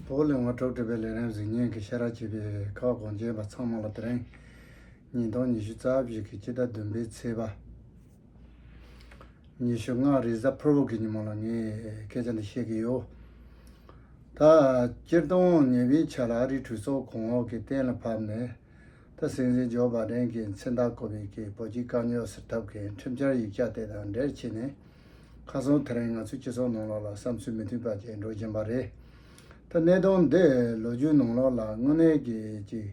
བོད་གླིང་བ་དྲུག་སྒྲིལ་པའི་ལས་རིམ་གཟིགས་ཉིན་གྱི་ཤེས་རབ་ཅེས་པའི་ཁག་དགོངས་རྒྱན་པ་ཚང་མ་ལ་དེ་རིང་ཉིས་སྟོང་ཉི་ཤུ་རྩ་བཞི་གི་སྤྱི་ཟླ་བདུན་པའི་ཚེས་པ་ཉི་ཤུ་ལྔ་རེས་གཟའ་ཕུར་བུ་གྱི་ཉིན་མོ་ལ་ངས་སྐད་ཆ་འདི་བཤད་ཀྱི་ཡོད། ད་སྤྱིར་བཏང་ཉེ་བའི་ཆ་ལ་ཨ་རིའི་གྲོས་ཚོགས་གོང་འོག་གིས་གཏན་ལ་ཕབ་ནས་ད་སྲིད་འཛིན་ཇོ་བ་ལྡན་གྱིས་མཚན་རྟགས་བཀོད་པའི་སྐད་བོད་སྤྱིའི་དཀའ་རྙོག་སེལ་ཐབས་ཀྱི་ཁྲིམས་འཆར་ཡིག་ཆ་དེ་དང་འབྲེལ་བྱས་ནས། ཁ་སང་དེ་རིང་ང་ཚོའི་སྤྱི་ཚོགས་ནང་ལོགས་ལ་བསམ་ཚུལ་མི་མཐུན་པ་བརྒྱད་འགྲོ་བཞིན་པ་རེད། ད་གནས་སྟངས་འདི་ལོ་རྒྱུས་ནང་ལོགས་ལ་དངོས་གནས་ཀྱི་ཅིག།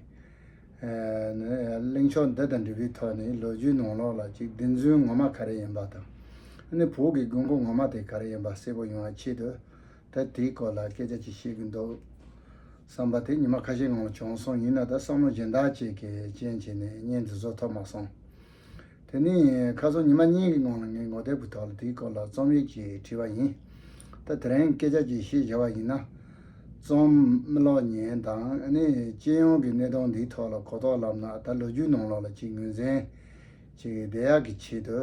གླེང་ཕྱོགས་འདི་དང་འབྲས་བུའི་ཐོག་ནས་ལོ་རྒྱུས་ནང་ལོགས་ལ་ཅིག་བདེན་རྫུན་ངོ་མ་ག་རེ་ཡིན་པ་དང། ནི་བོད་ཀྱི་དགོས་མཁོ་ངོ་མ་དེ་ག་རེ་ཡིན་པ་གསལ་པོ་ཡོང་བ་ཆེད་དུ། ད་དེའི་སྐོར་ལ་སྐད་ཆ་ཅིག་བཤད་གི་འདུག་བསམ་པ་དེ་ཉི་མ་ཁ་ཤས་ངང་བྱུང་སོང་ཡིན་ན་ད་བསམ་བློ་སྦྱིན་བདག་ཅིག་གིས་རྐྱེན་བྱས་ནས་བརྙན་འདི་བཟོ་ཐོབ་མ་སོང། དེ་ནི་ཁ་སང་ཉི་མ་གཉིས་ཀྱི་སྔོན་ལ་ངས་ངོ་དེབ་ཀྱི་ཐོག་ལ་དེའི་སྐོར་ལ་རྩོམ་ཡིག་ཅིག་བྲིས་པ་ཡིན། ད་དེ་རིང་སྐད་ཆ་ཅིག་བཤད་བྱ་བ་ཡིན་ན། རྩོམ་གློག་བརྙན་དང་ནི་སྤྱི་ཡོངས་ཀྱི་གནས་སྟངས་འདིའི་ཐོག་ལ་གོ་རྟོགས་ལབ་ན་ད་ལོ་རྒྱུས་ནང་ལོགས་ལ་ཅིག་ངོས་འཛིན་བྱེད་ཀྱི་བདེ་ཡག་གི་ཆེད་དུ་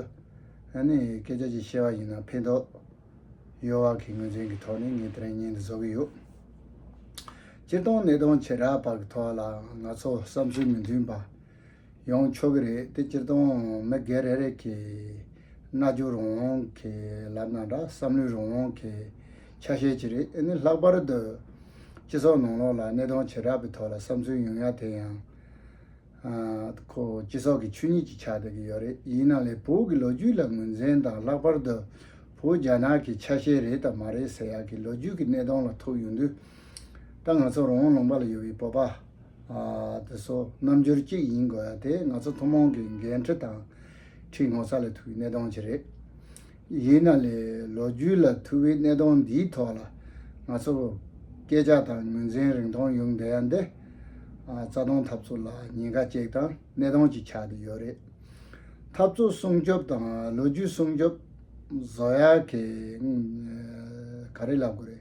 ནི་སྐད་ཆ་ཅིག་བཤད་པ་ཡིན་ན་ཕན་ཐོགས་ཡོད་བག་གི་ངོས་འཛིན་གྱི་ཐོག་ནས་ངས་དེ་རིང་བརྙན་འདི་བཟོ་གི་ཡོད། སྤྱིར་བཏང་གནས་སྟངས་བྱེ་བྲག་བར་གྱི་ཐོག་ལའང་ང་ཚོ་བསམ་ཚུལ་མི་མཐུན་པ་ཡོང་ཆོག་གི་རེད་དེ་སྤྱིར་བཏང་མི་སྒེར་རེ་རེ་གིས་རྣལ་འབྱོར་རང་དབང་གི་ལམ་དང་འདྲ་བསམ་བློའི་རང་དབང་གི་ཆ་ཤས་ཅིག་རེད་འདི་ནི་ལྷག་པར་དུ་སྤྱི་ཚོགས་ནང་ལོགས་ལ་གནས་སྟངས་བྱེ་བྲག་པའི་ཐོག་ལ་བསམ་ཚུལ་ཉུང་ཡང་དེ་ཡང་ཁོ་སྤྱི་ཚོགས་ཀྱི་ཆོས་ཉིད་ཅིག་ཆགས་བསྡད་ཀྱི་ཡོད་རེད་ཡིན་ནང་ལས་བོད་ཀྱི་ལོ་རྒྱུས་ལ་ངོས་འཛིན་དང་ལྷག་པར་དུ་བོད་རྒྱ་ནག་གི་ཆ་ཤས་རེད་དང་མ་རེད་ཟེར་ཡག་གི་ལོ་རྒྱུས་ཀྱི་གནས་སྟངས་ལ་ཐུག་ཡོང་དུས་ད་ང་ཚོ་རང་དབང་ལུང་པ་ལ་ཡོད་པའི་བོད་པ། དེ་སོགས་རྣམ་འགྱུར་གཅིག་ཡིན་དགོས་ཡ་དེ་ང་ཚོ་ཐུན་མོང་གི་འགན་འཁྲི་དང་ཁྲིད་ངོ་ཚ་ལས་ཐུག་གི་གནད་དོན་གཅིག་རེད། ཡིན་ན་ལས་ལོ་རྒྱུས་ལ་ཐུག་པའི་གནད་དོན་འདིའི་ཐོག་ལ་ང་ཚོ་སྐད་ཆ་དང་ངོས་འཛིན་རིང་ཐུང་ཡོང་བསྡད་ཡ་འདི་རྩ་སྟོང་ཐབས་ཚུགས་ལ་ཉེན་ཁ་གཅིག་དང་གནད་དོན་གཅིག་ཆགས་ཀྱི་ཡོད་རེད། ཐབས་ཚུགས་སྲུང་སྐྱོབ་དང་ལོ་རྒྱུས་སྲུང་སྐྱོབ་བཟོ་ཡ་གས་ག་རེ་ལབ་དགོས་རེད།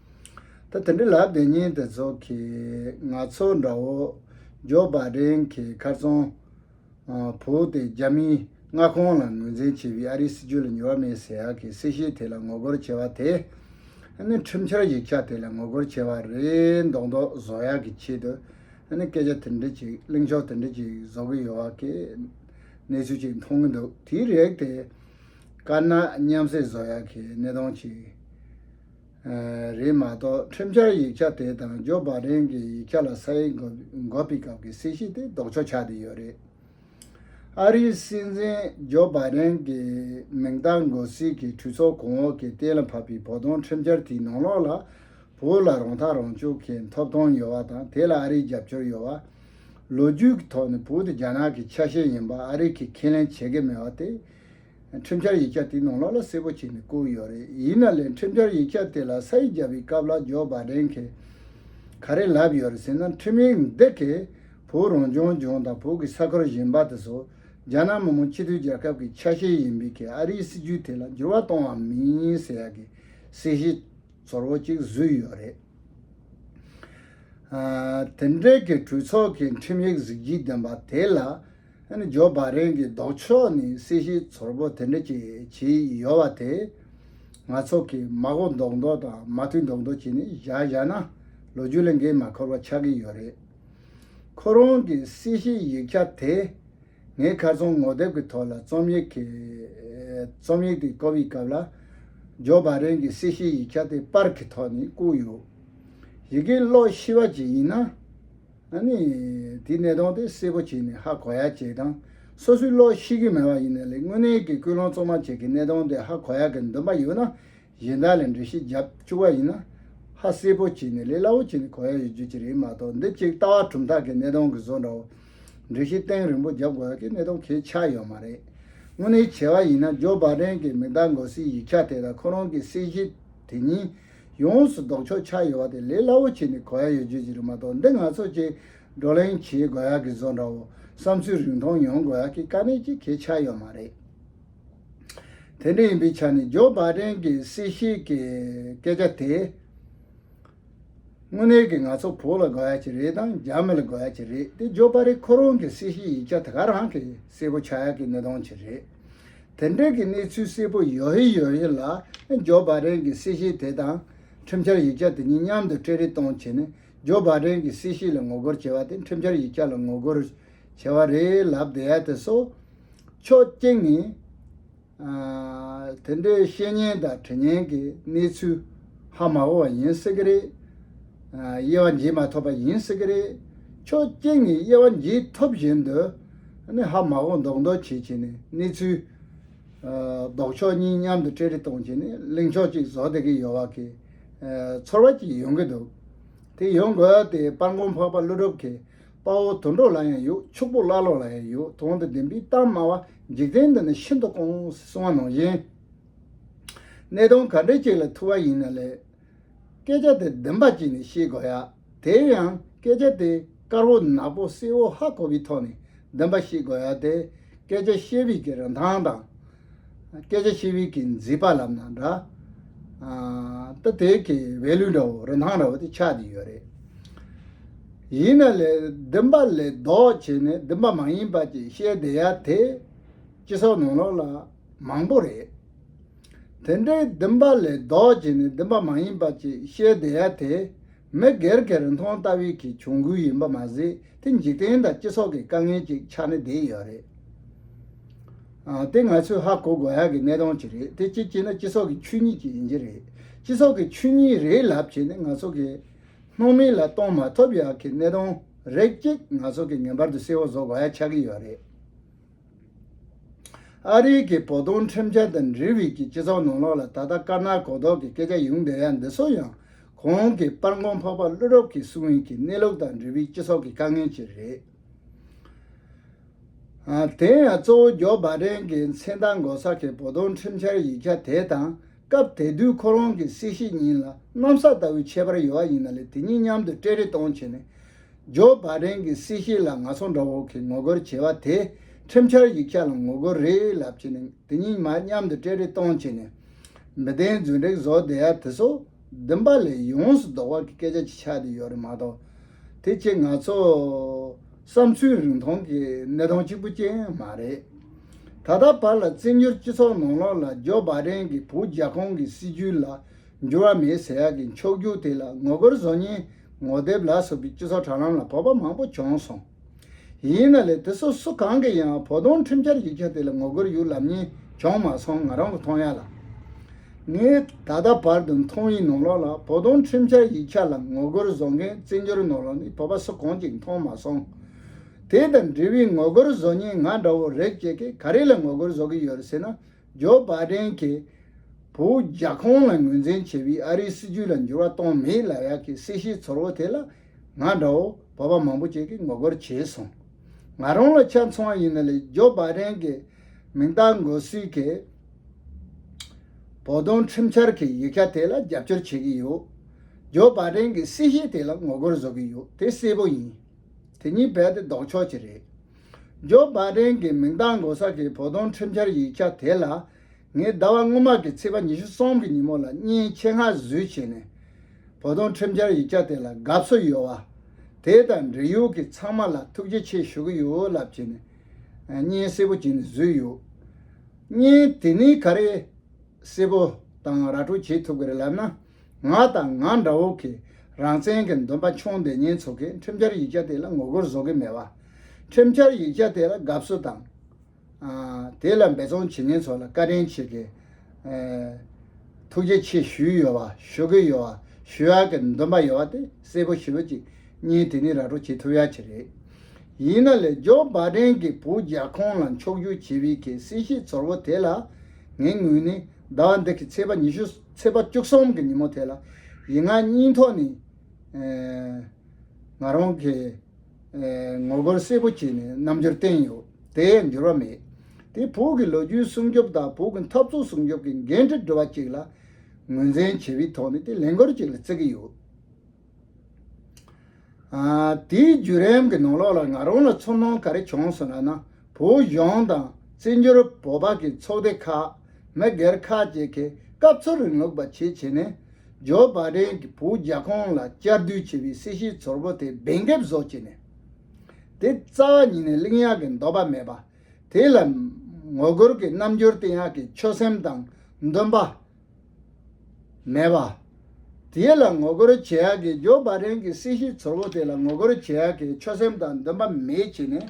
ད་དེ་འདྲ་ལབ་དེ་ཉིན་དེ་ཚོ་གིས་ང་ཚོ་འདྲ་བོ་ཇོ་པཱ་རེན་གྱི་མཁར་རྫོང་བོའུ་སྟེ་རྒྱ་མིའི་མངའ་ཁོངས་ལ་ངོས་འཛིན་བྱེད་པའི་ཨ་རིའི་སྲིད་ཇུས་ལ་ཉེ་བ་མེད་ཟེར་ཡག་གི་སྲིད་ཞིའི་ཐད་ལ་ངོ་རྒོལ་བྱེད་པ་དེ་ནི་ཁྲིམས་འཆར་ཡིག་ཆ་དེ་ལ་ངོ་རྒོལ་བྱེད་པ་རེད་མདོག་མདོག་བཟོ་ཡག་གི་ཆེད་དུ་སྐད་ཆ་དེ་འདྲ་ཅིག་གླེང་ཕྱོགས་དེ་འདྲ་ཅིག་བཟོ་གི་ཡོད་ཡག་གི་གནས་ཚུལ་ཅིག་མཐོང་གི་འདུག་དེའི་རེག་དེ་དཀར་ནག་མཉམ་བསྲེས་བཟོ་ཡག་གི་གནས་སྟངས་ཅིག། རེད་མ་གཏོགས་ཁྲིམས་འཆར་ཡིག་ཆ་དེ་དང་ཇོ་བྷ་རེན་གྱི་ཡིག་ཆ་ལ་ས་ཡིག་འགོད་པའི་སྐབས་ཀྱི་སྲིད་ཞི་དེ་ལྡོག་ཆོག་ཆགས་ཏེ་ཡོད་རེད། ཨ་རིའི་སྲིད་འཛིན་ཇོ་བྷ་རེན་གྱི་མིང་རྟགས་འགོད་སྲིད་ཀྱི་གྲོས་ཚོགས་གོང་འོག་གིས་གཏན་ལ་ཕབ་པའི་བོ་དོང་ཁྲིམས་འཆར་དེའི་ནང་ལོགས་ལ་བོད་ལ་རང་ཐག་རང་གཅོད་མཁན་ཐོབ་ཐང་ཡོད་བ་དང་དེ་ལ་ཨ་རིའི་རྒྱབ་སྐྱོར་ཡོད་བ། ལོ་རྒྱུས་ཀྱི་ཐོག་ནས་བོད་དེ་རྒྱ་ནག་གི་ཆ་ཤས་ཡིན་པ་ཨ་རིག་གིས་ཁས་ལེན་བྱེད་ཀྱི་མེད་བ་དེ། ཁྲིམས་འཆར་ཡིག་ཆ་དེ་ནང་ལོགས་ལ་གསལ་པོ་བྱས་ནས་བསྐུར་ཡོད་རེད་ཡིན་ན་ལས་ཁྲིམས་འཆར་ཡིག་ཆ་དེ་ལ་ས་ཡིག་རྒྱབ་པའི་སྐབས་ལ་ཇོ་བྷ་རེན་གིས་ག་རེ་ལབ་ཡོད་རེད་ཟེར་ན་ཁྲིམས་ཡིག་འདི་གིས་བོད་རང་སྐྱོང་ལྗོངས་དང་བོད་ཀྱི་ས་ཁུལ་གཞན་པ་དེ་ཚོ་རྒྱ་ནག་མི་དམངས་སྤྱི་མཐུན་རྒྱལ་ཁབ་ཀྱི་ཆ་ཤས་ཡིན་པའི་ཁེ་ཨ་རིའི་སྲིད་ཇུས་དེ་ལ་འགྱུར་བ་གཏོང་བ་མིན་ཟེར་ཡག་གི་གསལ་བཤད་ཚོར་བོ་གཅིག་བཟོས་ཡོད་རེད། དེ་འབྲེལ་གྱི་གྲོས་ཚོགས་ཀྱི་ཁྲིམས་ཡིག་གཟིགས་རྒྱུའི་འདུན་པ་དེ་ལ། ཇོ་བ་རེན་གྱི་ལྡོག་ཕྱོགས་ནི་སྲིད་ཞིའི་ཚོར་བོ་དེ་འདྲ་ཅིག་བྱེད་ཡི་ཡོད་བ་དེ། ང་ཚོ་གིས་མ་གོ་མདོག་མདོག་དང་མ་ཐུལ་མདོག་མདོག་བྱས་ནས་བཞག་བཞག་ན་ལོ་རྒྱུས་ལས་འགན་མ་འཁུར་བ་ཆགས་ཀྱི་ཡོད་རེད། ཁོ་རང་གི་སྲིད་ཞིའི་ཡིག་ཆ་དེ། ངས་ཁ་ཚོན་ངོ་དེབ་ཀྱི་ཐོག་ལ་རྩོམ་ཡིག་གི། རྩོམ་ཡིག་དེ་བཀོད་པའི་སྐབས་ལ། ཇོ་བ་རེན་གྱི་སྲིད་ཞིའི་ཡིག་ཆ་དེ་པར་གྱི་ཐོག་ནས་བརྐུས་ཡོད། ཡི་གེ་ཀློག་ཤེས་པ་ཅིག་ཡིན་ན། ན་ནི། དེའི་ནད་གདོན་དེ་སེལ་པོ་བྱས་ནས་ཧ་གོ་ཡག་བྱས་དང། སོ་སོའི་བློར་ཤེས་ཀྱི་མེད་པ་ཡིན་ན་ལས་དངོས་གནས་ཀྱི་ཀུན་སློང་གཙོ་མ་བྱས་ཀྱི་ནད་གདོན་དེ་ཧ་གོ་ཡག་གི་འདུན་པ་ཡོད་ན། གཞན་དག་ལས་འབྲི་གཞི་རྒྱབ་བཅུག་པ་ཡིན་ན། ཧ་སེལ་པོ་བྱས་ནས་ལས་སླ་བོ་བྱས་ནས་གོ་ཡག་ཡོད་རྒྱུ་གཅིག་རེད་མ་གཏོགས་འདི་གཅིག་ལྟ་བ་གྲུབ་མཐའ་གི་ནད་གདོན་གྱི་བཟོ་འདྲ་བོ། འབྲི་གཞི་སྟེང་རིང་པོ་རྒྱབ་དགོས་ཡག་གི་ནད་གདོན་གས་ཆག་ཡོད་མ་རེད། དངོས་གནས་བྱས་པ་ཡིན་ན་ཇོ་བཱ་རེན་གྱི་མིག་མདའ་འགོ་སའི་ཡིག་ཆ་དེ་དང་ཁོ་རང་གི་གསལ་བཤད་དེ་གཉིས་ཡོངས་སུ་ལྡོག་ཆོག་ཆ་ཡོད་བ་དེ་ལས་སླ་བོ་ཆེ་ནི་གོ་ཡ་ཡོད་རྒྱུ་ཅི་རིགས་མ་གཏོགས་འདི་ང་ཚོ་ཅིག་བགྲོ་གླེང་བྱེད་དགོས་ཡག་གི་བཟོ་འདྲ་བོ་བསམ་ཚུལ་རིང་ཐུང་ཡོང་དགོས་ཡག་གི་དཀའ་གནད་ཅིག་གལ་ཆགས་ཡོད་མ་རེད། དེ་འདྲ་ཡིན་པའི་ཆ་ནས་ཇོ་པཱ་ཏན་གྱི་སྲིད་ཞིག་གི་སྐད་ཆ་དེ། དངོས་གནས་ཀྱི་ང་ཚོ་བོད་ལ་དགོས་ཡག་ཅིག་རེད་དང་རྒྱ་མི་ལ་དགོས་ཡག་ཅིག་རེད་དེ་ཇོ་པཱ་རི་ཁོ་རང་གི་སྲིད་ཞིག་ཡིག་ཆ་དེ་ག་རང་གི་གསལ་པོ་ཆགས་ཡག་གི་གནད་དོན་ཅིག་རེད། དེ་འབྲེལ་གྱི་གནས་ཚུལ་གསལ་པོ་ཡོད་རེ་ཡོད་རེ་ལ་ཇོ་པཱ་རེན་གྱི་སྲིད་ཞི་དེ་དང་ཁྲིམས་འཆར་ཡིག་ཆ་དེ་གཉིས་མཉམ་དུ་སྤྲད་རེ་གཏོང་བྱས་ནས་ཇོ་པཱ་རེན་གྱི་སྲིད་ཞི་ལ་ངོ་རྒོལ་བྱས་པ་དེ་ཁྲིམས་འཆར་ཡིག་ཆ་ལ་ངོ་རྒོལ་བྱས་པ་རེད་ལབ་བསྡད་ཡ་དེ་སོ། ཕྱོགས་གཅིག་ནས། དེ་འདྲའི་བཤད་ཉན་དང་དྲི་ཉན་གྱི་གནས་ཚུལ་ཧ་མ་གོ་བ་ཡིན་སྲིད་ཀྱི་རེད། དབྱེ་བ་འབྱེད་མ་ཐོབ་པ་ཡིན་སྲིད་ཀྱི་རེད། ཕྱོགས་གཅིག་ནས་དབྱེ་བ་འབྱེད་ཐུབ་བཞིན་དུ། ནི་ཧ་མ་གོ་འདོགས་འདོགས་བྱེད་བྱེད་ནས་གནས་ཚུལ། ལྡོག་ཕྱོགས་གཉིས་མཉམ་དུ་སྤྲད་རེ་གཏོང་བྱེད་ནས་གླེང་ཕྱོགས་གཅིག་བཟོ་བསྡད་ཀྱི་ཡོད་བ་གི། ཚོར་བ་གཅིག་ཡོང་གི་འདུག་དེ་ཡོང་དགོས་ཏེ་སྤར་མགོ་འཕགས་པ་ཀླུ་སྒྲུབ་ཁའི་དཔའ་བོ་དུད་འགྲོ་ལ་ཡང་ཡོད་ཕྱུག་པོ་ཀླ་ཀློ་ལ་ཡང་ཡོད་དོན་དུ་བདེན་པའི་གཏམ་སྨྲ་བ་འཇིག་རྟེན་འདི་ནི་ཤིན་ཏུ་དཀོན་སེ་གསུང་བ་ནང་བཞིན། གནས་སྟངས་ག་འདྲའི་ཅིག་ལ་ཐུག་བ་ཡིན་ན་ལས། སྐད་ཆ་དེ་བདེན་པ་ཅིག་ནི་ཤེས་དགོས་ཡ། དེའི་ཡང་སྐད་ཆ་དེ་དཀར་བོ་ནག་པོ་བསིལ་བོ་ཧ་གོ་བའི་ཐོག་ནས་བདེན་པ་ཤེས་དགོས་ཡ་དེ། སྐད་ཆ་བཤད་བའི་གི་རིན་ཐང་དང། སྐད་ཆ་བཤད་བའི་གི་མཛེས་པ་ལབ་ན་འདྲ། ད་དེ་གི value འདྲ་བོ་རིན་ཐང་འདྲ་བོ་དེ་ཆགས་ཀྱི་ཡོད་རེད། ཡིན་ན་ལས་བདེན་པ་ལས་ལྡོག་བྱས་ནས་བདེན་པ་མ་ཡིན་པ་ཅིག་བཤད་བསྡད་ཡ་དེ། སྤྱི་ཚོགས་ནང་ལོགས་ལ་མང་པོ་རེད། དེ་འདྲའི་བདེན་པ་ལས་ལྡོག་ཅིག་ནི་བདེན་པ་མ་ཡིན་པ་ཅིག་བཤད་བསྡད་ཡ་དེ་མི་སྒེར་གྱི་རིན་ཐང་ལྟ་བུའི་གི་གྱོང་གུན་ཡིན་པ་མ་ཟད་དེ་འཇིག་རྟེན་དང་སྤྱི་ཚོགས་ཀྱི་དཀའ་ངལ་ཅིག་ཆགས་ནས་བསྡད་ཡོད་རེད། དེ་ང་ཚོས་ཧ་གོ་དགོས་ཡག་གི་གནས་སྟངས་ཅིག་རེད་དེ་ཅིག་བྱས་ན་སྤྱི་ཚོགས་ཀྱི་ཆོས་ཉིད་ཅིག་ཡིན་གྱི་རེད། སྤྱི་ཚོགས་ཀྱི་ཆོས་ཉིད་རེད་ལབ་བྱས་ནས་ང་ཚོ་གི་སྣང་མེད་ལ་གཏོང་མ་ཐུབ་ཡག་གི་གནས་སྟངས་རེད་ཅིག་ང་ཚོ་གི་ངེས་པར་དུ་གསལ་བོ་བཟོ་དགོས་ཡག་ཆགས་ཀྱི་ཡོད་རེད། ཨ་རིའི་གི་བོ་དོང་ཁྲིམས་འཆར་དང་འབྲེལ་བིད་ཀྱི་སྤྱི་ཚོགས་ནང་ལོག་ལ་ད་ལྟ་དཀར་ནག་གོ་ལྡོག་གི་སྐད་ཆ་ཡོང་བསྡད་ཡ་འདི་སོ་ཡང་གོང་གི་སྤར་འགོང་འཕགས་པ་ཀླུ་རོབ་ཀྱི་གསུང་ཡིན་གི་གནས་ལུགས་དང་འབྲེལ་བིད་སྤྱི་ཚོགས་ཀྱི་དཀའ་ངལ་ཅི་རེད། དེ་ཡང་གཙོ་བོ་རྒྱོ་སྦ་རན་གི་མཚན་རྟགས་འགོ་ས་གི་བོ་དོང་ཁྲིམས་འཆར་ཡིག་ཆ་དེ་དང། སྐབས་དེ་དུས་ཁོ་རང་གི་སྲས་བཤེས་གཉེན་ལ་གནམ་ས་ལྟ་བུའི་ཁྱད་པར་ཡོད་པ་ཡིན་ན་ལས་དེ་གཉིས་མཉམ་དུ་སྤྲད་རེ་གཏོང་བྱས་ནས། ཇོ་བ་རེན་གྱི་སྲས་བཤེས་ལ་ནག་ཚོང་འདྲ་བོ་གིས་ངོ་རྒོལ་བྱས་པ་དེས་ཁྲིམས་འཆར་ཡིག་ཆ་ལ་ངོ་རྒོལ་རེད་ལབ་བྱས་ནས་དེ་གཉིས་མ་མཉམ་དུ་སྤྲད་རེ་གཏོང་བྱས་ནས། མི་བདེན་རྫུན་དྲེགས་བཟོ་བདེ་ཡ་དེ་སོགས་བདུན་པ་ལས་ཡོངས་སུ་ལྡོག་པ་གི་སྐད་ཆ་ཅིག་ཆགས་དུས་ཡོད་རེད་མ་གཏོགས། དེ་བཅས་ང་ཚོ་བསམ་ཚུལ་རིང་ཐུང་གི་གནས་སྟངས་གཅིག་པུ་ཅན་མ་རེད། ད་ལྟ་བར་ལ་བཙན་བྱོལ་སྤྱི་ཚོགས་ནང་ལོགས་ལ་ཇོ་བཱ་རེན་གྱི་བུ་རྒྱ་ཁོང་གི་སྲིད་བྱུས་ལ་འགྱུར་བ་མེད་ཟེར་ཡག་གི་མཆོག་གྱུར་དེ་ལ་ངོ་རྒོལ་བཟོ་ཉེན་ངོ་དེབ་ལ་སོགས་ཀྱི་སྤྱི་ཚོགས་དྲ་ལམ་ལ་བོད་པ་མང་པོ་བྱོན་སོང། ཡིན་ན་ལས་དེ་སོ་སོ་གང་གི་ཡང་བོ་དོང་ཁྲིམས་འཆར་ཡིག་ཆ་དེ་ལ་ངོ་རྒོལ་ཡུལ་ལམ་གཉིས་བྱུང་མ་སོང་ང་རང་གི་མཐོང་ཡག་ལ། ངས་ད་ལྟ་བར་དུ་མཐོང་ཡི་ནོར་ལོག་ལ་བོ་དོང་ཁྲིམས་འཆར་ཡིག་ཆ་ལ་ངོ་རྒོལ་བཟོ་མཁན་བརྩི་འགྱུར་ནོར་ལོག་ནི་བོ་པ་སུ་གང་ཅིག་མཐོང་མ་སོང། དེ་དང་འབྲེལ་བའི་ངོ་རྒོལ་བཟོ་ཉེན་ང་འདྲ་བོ་རེག་བྱེད་ཀྱི་ག་རེ་ལ་ངོ་རྒོལ་བཟོ་གི་ཡོད་རེ་ཟེར་ན་ཇོ་བ་ཏྲེན་གྱིས་བོད་རྒྱ་ཁོང་ལ་ངོས་འཛིན་བྱེད་པའི་ཨ་རིའི་སྲིད་ཇུས་ལ་འགྱུར་བ་གཏོང་མེད་ལ་ཡག་གི་སྲིད་ཤེས་ཚོར་བོ་དེ་ལ་ང་འདྲ་བོ་བོད་པ་མང་པོ་ཅིག་གིས་ངོ་རྒོལ་བྱས་སོང། ང་རང་ལ་ཆ་མཚུངས་བ་ཡིན་ན་ལས་ཇོ་པཱ་རེན་གྱི་མིང་རྟགས་འགོད་སྲོལ་གྱི་བོ་དོང་ཁྲིམས་འཆར་གྱི་ཡིག་ཆ་དེ་ལ་རྒྱབ་སྐྱོར་བྱེད་ཀྱི་ཡོད། ཇོ་པཱ་རེན་གྱི་སྲིད་ཞི་དེ་ལ་ངོ་རྒོལ་བཟོ་གི་ཡོད་དེ་གསལ་པོ་ཡིན། དེ་གཉིས་རྦད་དེ་ལྡོག་ཕྱོགས་ཅིག་རེད། ཇོ་པཱ་རེན་གྱི་མིང་རྟགས་འགོད་ས་གྱི་བོ་དོང་ཁྲིམས་འཆར་ཡིག་ཆ་དེ་ལ་ངས་ཟླ་བ་སྔོན་མ་གི་ཚེས་པ་ཉི་ཤུ་གསུམ་གི་ཉིན་མོ་ལ་གཉིན་ཆེ་ངར་བཟོས་བྱས་ནས་བོ་དོང་ཁྲིམས་འཆར་ཡིག་ཆ་དེ་ལ་དགའ་བསུ་ཡོད་བ། དེ་དང་འབྲེལ་ཡོད་གི་ཚང་མ་ལ་ཐུགས་རྗེ་ཆེ་ཞུ་གི་ཡོད་ལབ་བྱས་ནས་གཉིན་སེར་པོ་བྱས་ནས་བཟོས་ཡོད། གཉིན་དེ་ནི་ག་རེ་སེར་པོ་དང་ར་སྤྲོད་བྱེད་ཐུབ་གི་རེད་ལབ་ན་ང་དང་ང་འདྲ་བོ་གི་རང་བཙན་གི་འདུན་པ་ཆུང་ལྡེ་གཉིན་ཚོ་གི་ཁྲིམས་འཆར་ཡིག་ཆ་དེ་ལ་ངོ་རྒོལ་བཟོ་གི་མེད་བ། ཁྲིམས་འཆར་ཡིག་ཆ་དེ་ལ་དགའ་བསུ་དང། དེ་ལ་འབད་བརྩོན་བྱེད་མཁན་ཚོ་ལ་བཀའ་དྲིན་ཆེ་གི། ཐུགས་རྗེ་ཆེ་ཞུས་ཡོད་བ་ཞུ་གི་ཡོད་བ་ཞུ་ཡག་གི་འདུན་པ་ཡོད་བ་དེ་གསལ་པོ་ཞིབ་ཅིག་གཉིས་དེ་ནི་ར་སྤྲོད་བྱེད་ཐུབ་ཡག་ཆེ་རེད། ཡིན་ན་ལས་ཇོ་བ་དྲན་གི་བུ་རྒྱ་ཁོང་ལ་མཆོག་རྒྱུག་བྱེད་བི་གི་སྲིད་ཞིའི་ཚོར་བོ་དེ་ལ་ངའི་ངོས་ནས་ཟླ་བ་འདི་གི་ཚེས་པ་ཉི་ཤུ་ཚེས་པ་བཅུ་གསུམ་གི་ཉིན་མོ་དེ་ལ་ཡིད་ངག་གཉིས་ཐོག་ནས་ང་རང་གི། ངོ་རྒོལ་གསལ་པོ་བྱས་ནས་རྣམ་འགྱུར་བསྟན་ཡོད་དེ་འགྱུར་བ་མེད་དེ་བོད་ཀྱི་ལོ་རྒྱུས་སྲུང་སྐྱོབ་དང་བོད་ཀྱི་འཐབ་རྩོད་སྲུང་སྐྱོབ་ཀྱི་འགན་འཁྲི་སྒྲུབ་པ་གཅིག་ལ་ངོས་འཛིན་བྱས་པའི་ཐོག་ནས་དེ་ལས་འགུལ་གཅིག་ལ་བརྩི་གི་ཡོད། དེའི་བརྒྱུད་རིམ་གྱི་ནང་ལོགས་ལ་ང་རང་ལ་ཚོར་སྣང་ག་རེ་བྱུང་སོང་ན་བོད་གཞུང་དང་བཙན་བྱོལ་བོད་པ་ཀྱི་ཚོགས་སྡེ་ཁག་མི་སྒེར་ཁག་བཅས་ཀྱིས་སྐབས་འཚོལ་རིང་ལུགས་པ་བྱེད་བྱེད་ནས། ཇོ་བ་བྲན་གྱིས་བོད་རྒྱ་ཁོངས་ལ་བསྐྱར་ཟློས་བྱས་པའི་སྲིད་ཞིའི་ཚོར་བུ་དེ་འབེན་འགེབས་བཟོ་བྱས་ནས། དེ་རྩ་བ་ཉིད་ནས་གླིང་ཡག་གི་འདོད་པ་མེད་པ། དེ་ལ་ངོ་རྒོལ་གྱི་རྣམ་འགྱུར་བསྟན་ཡག་གི་ཆོད་སེམས་དང་འདུན་པ་མེད་པ། དེ་ལ་ངོ་རྒོལ་བྱེད་ཡག་གི་ཇོ་བ་བྲན་གྱི་སྲིད་ཞིའི་ཚོར་བུ་དེ་ལ་ངོ་རྒོལ་བྱེད་ཡག་གི་ཆོད་སེམས་དང་འདུན་པ་མེད་བྱས་ནས།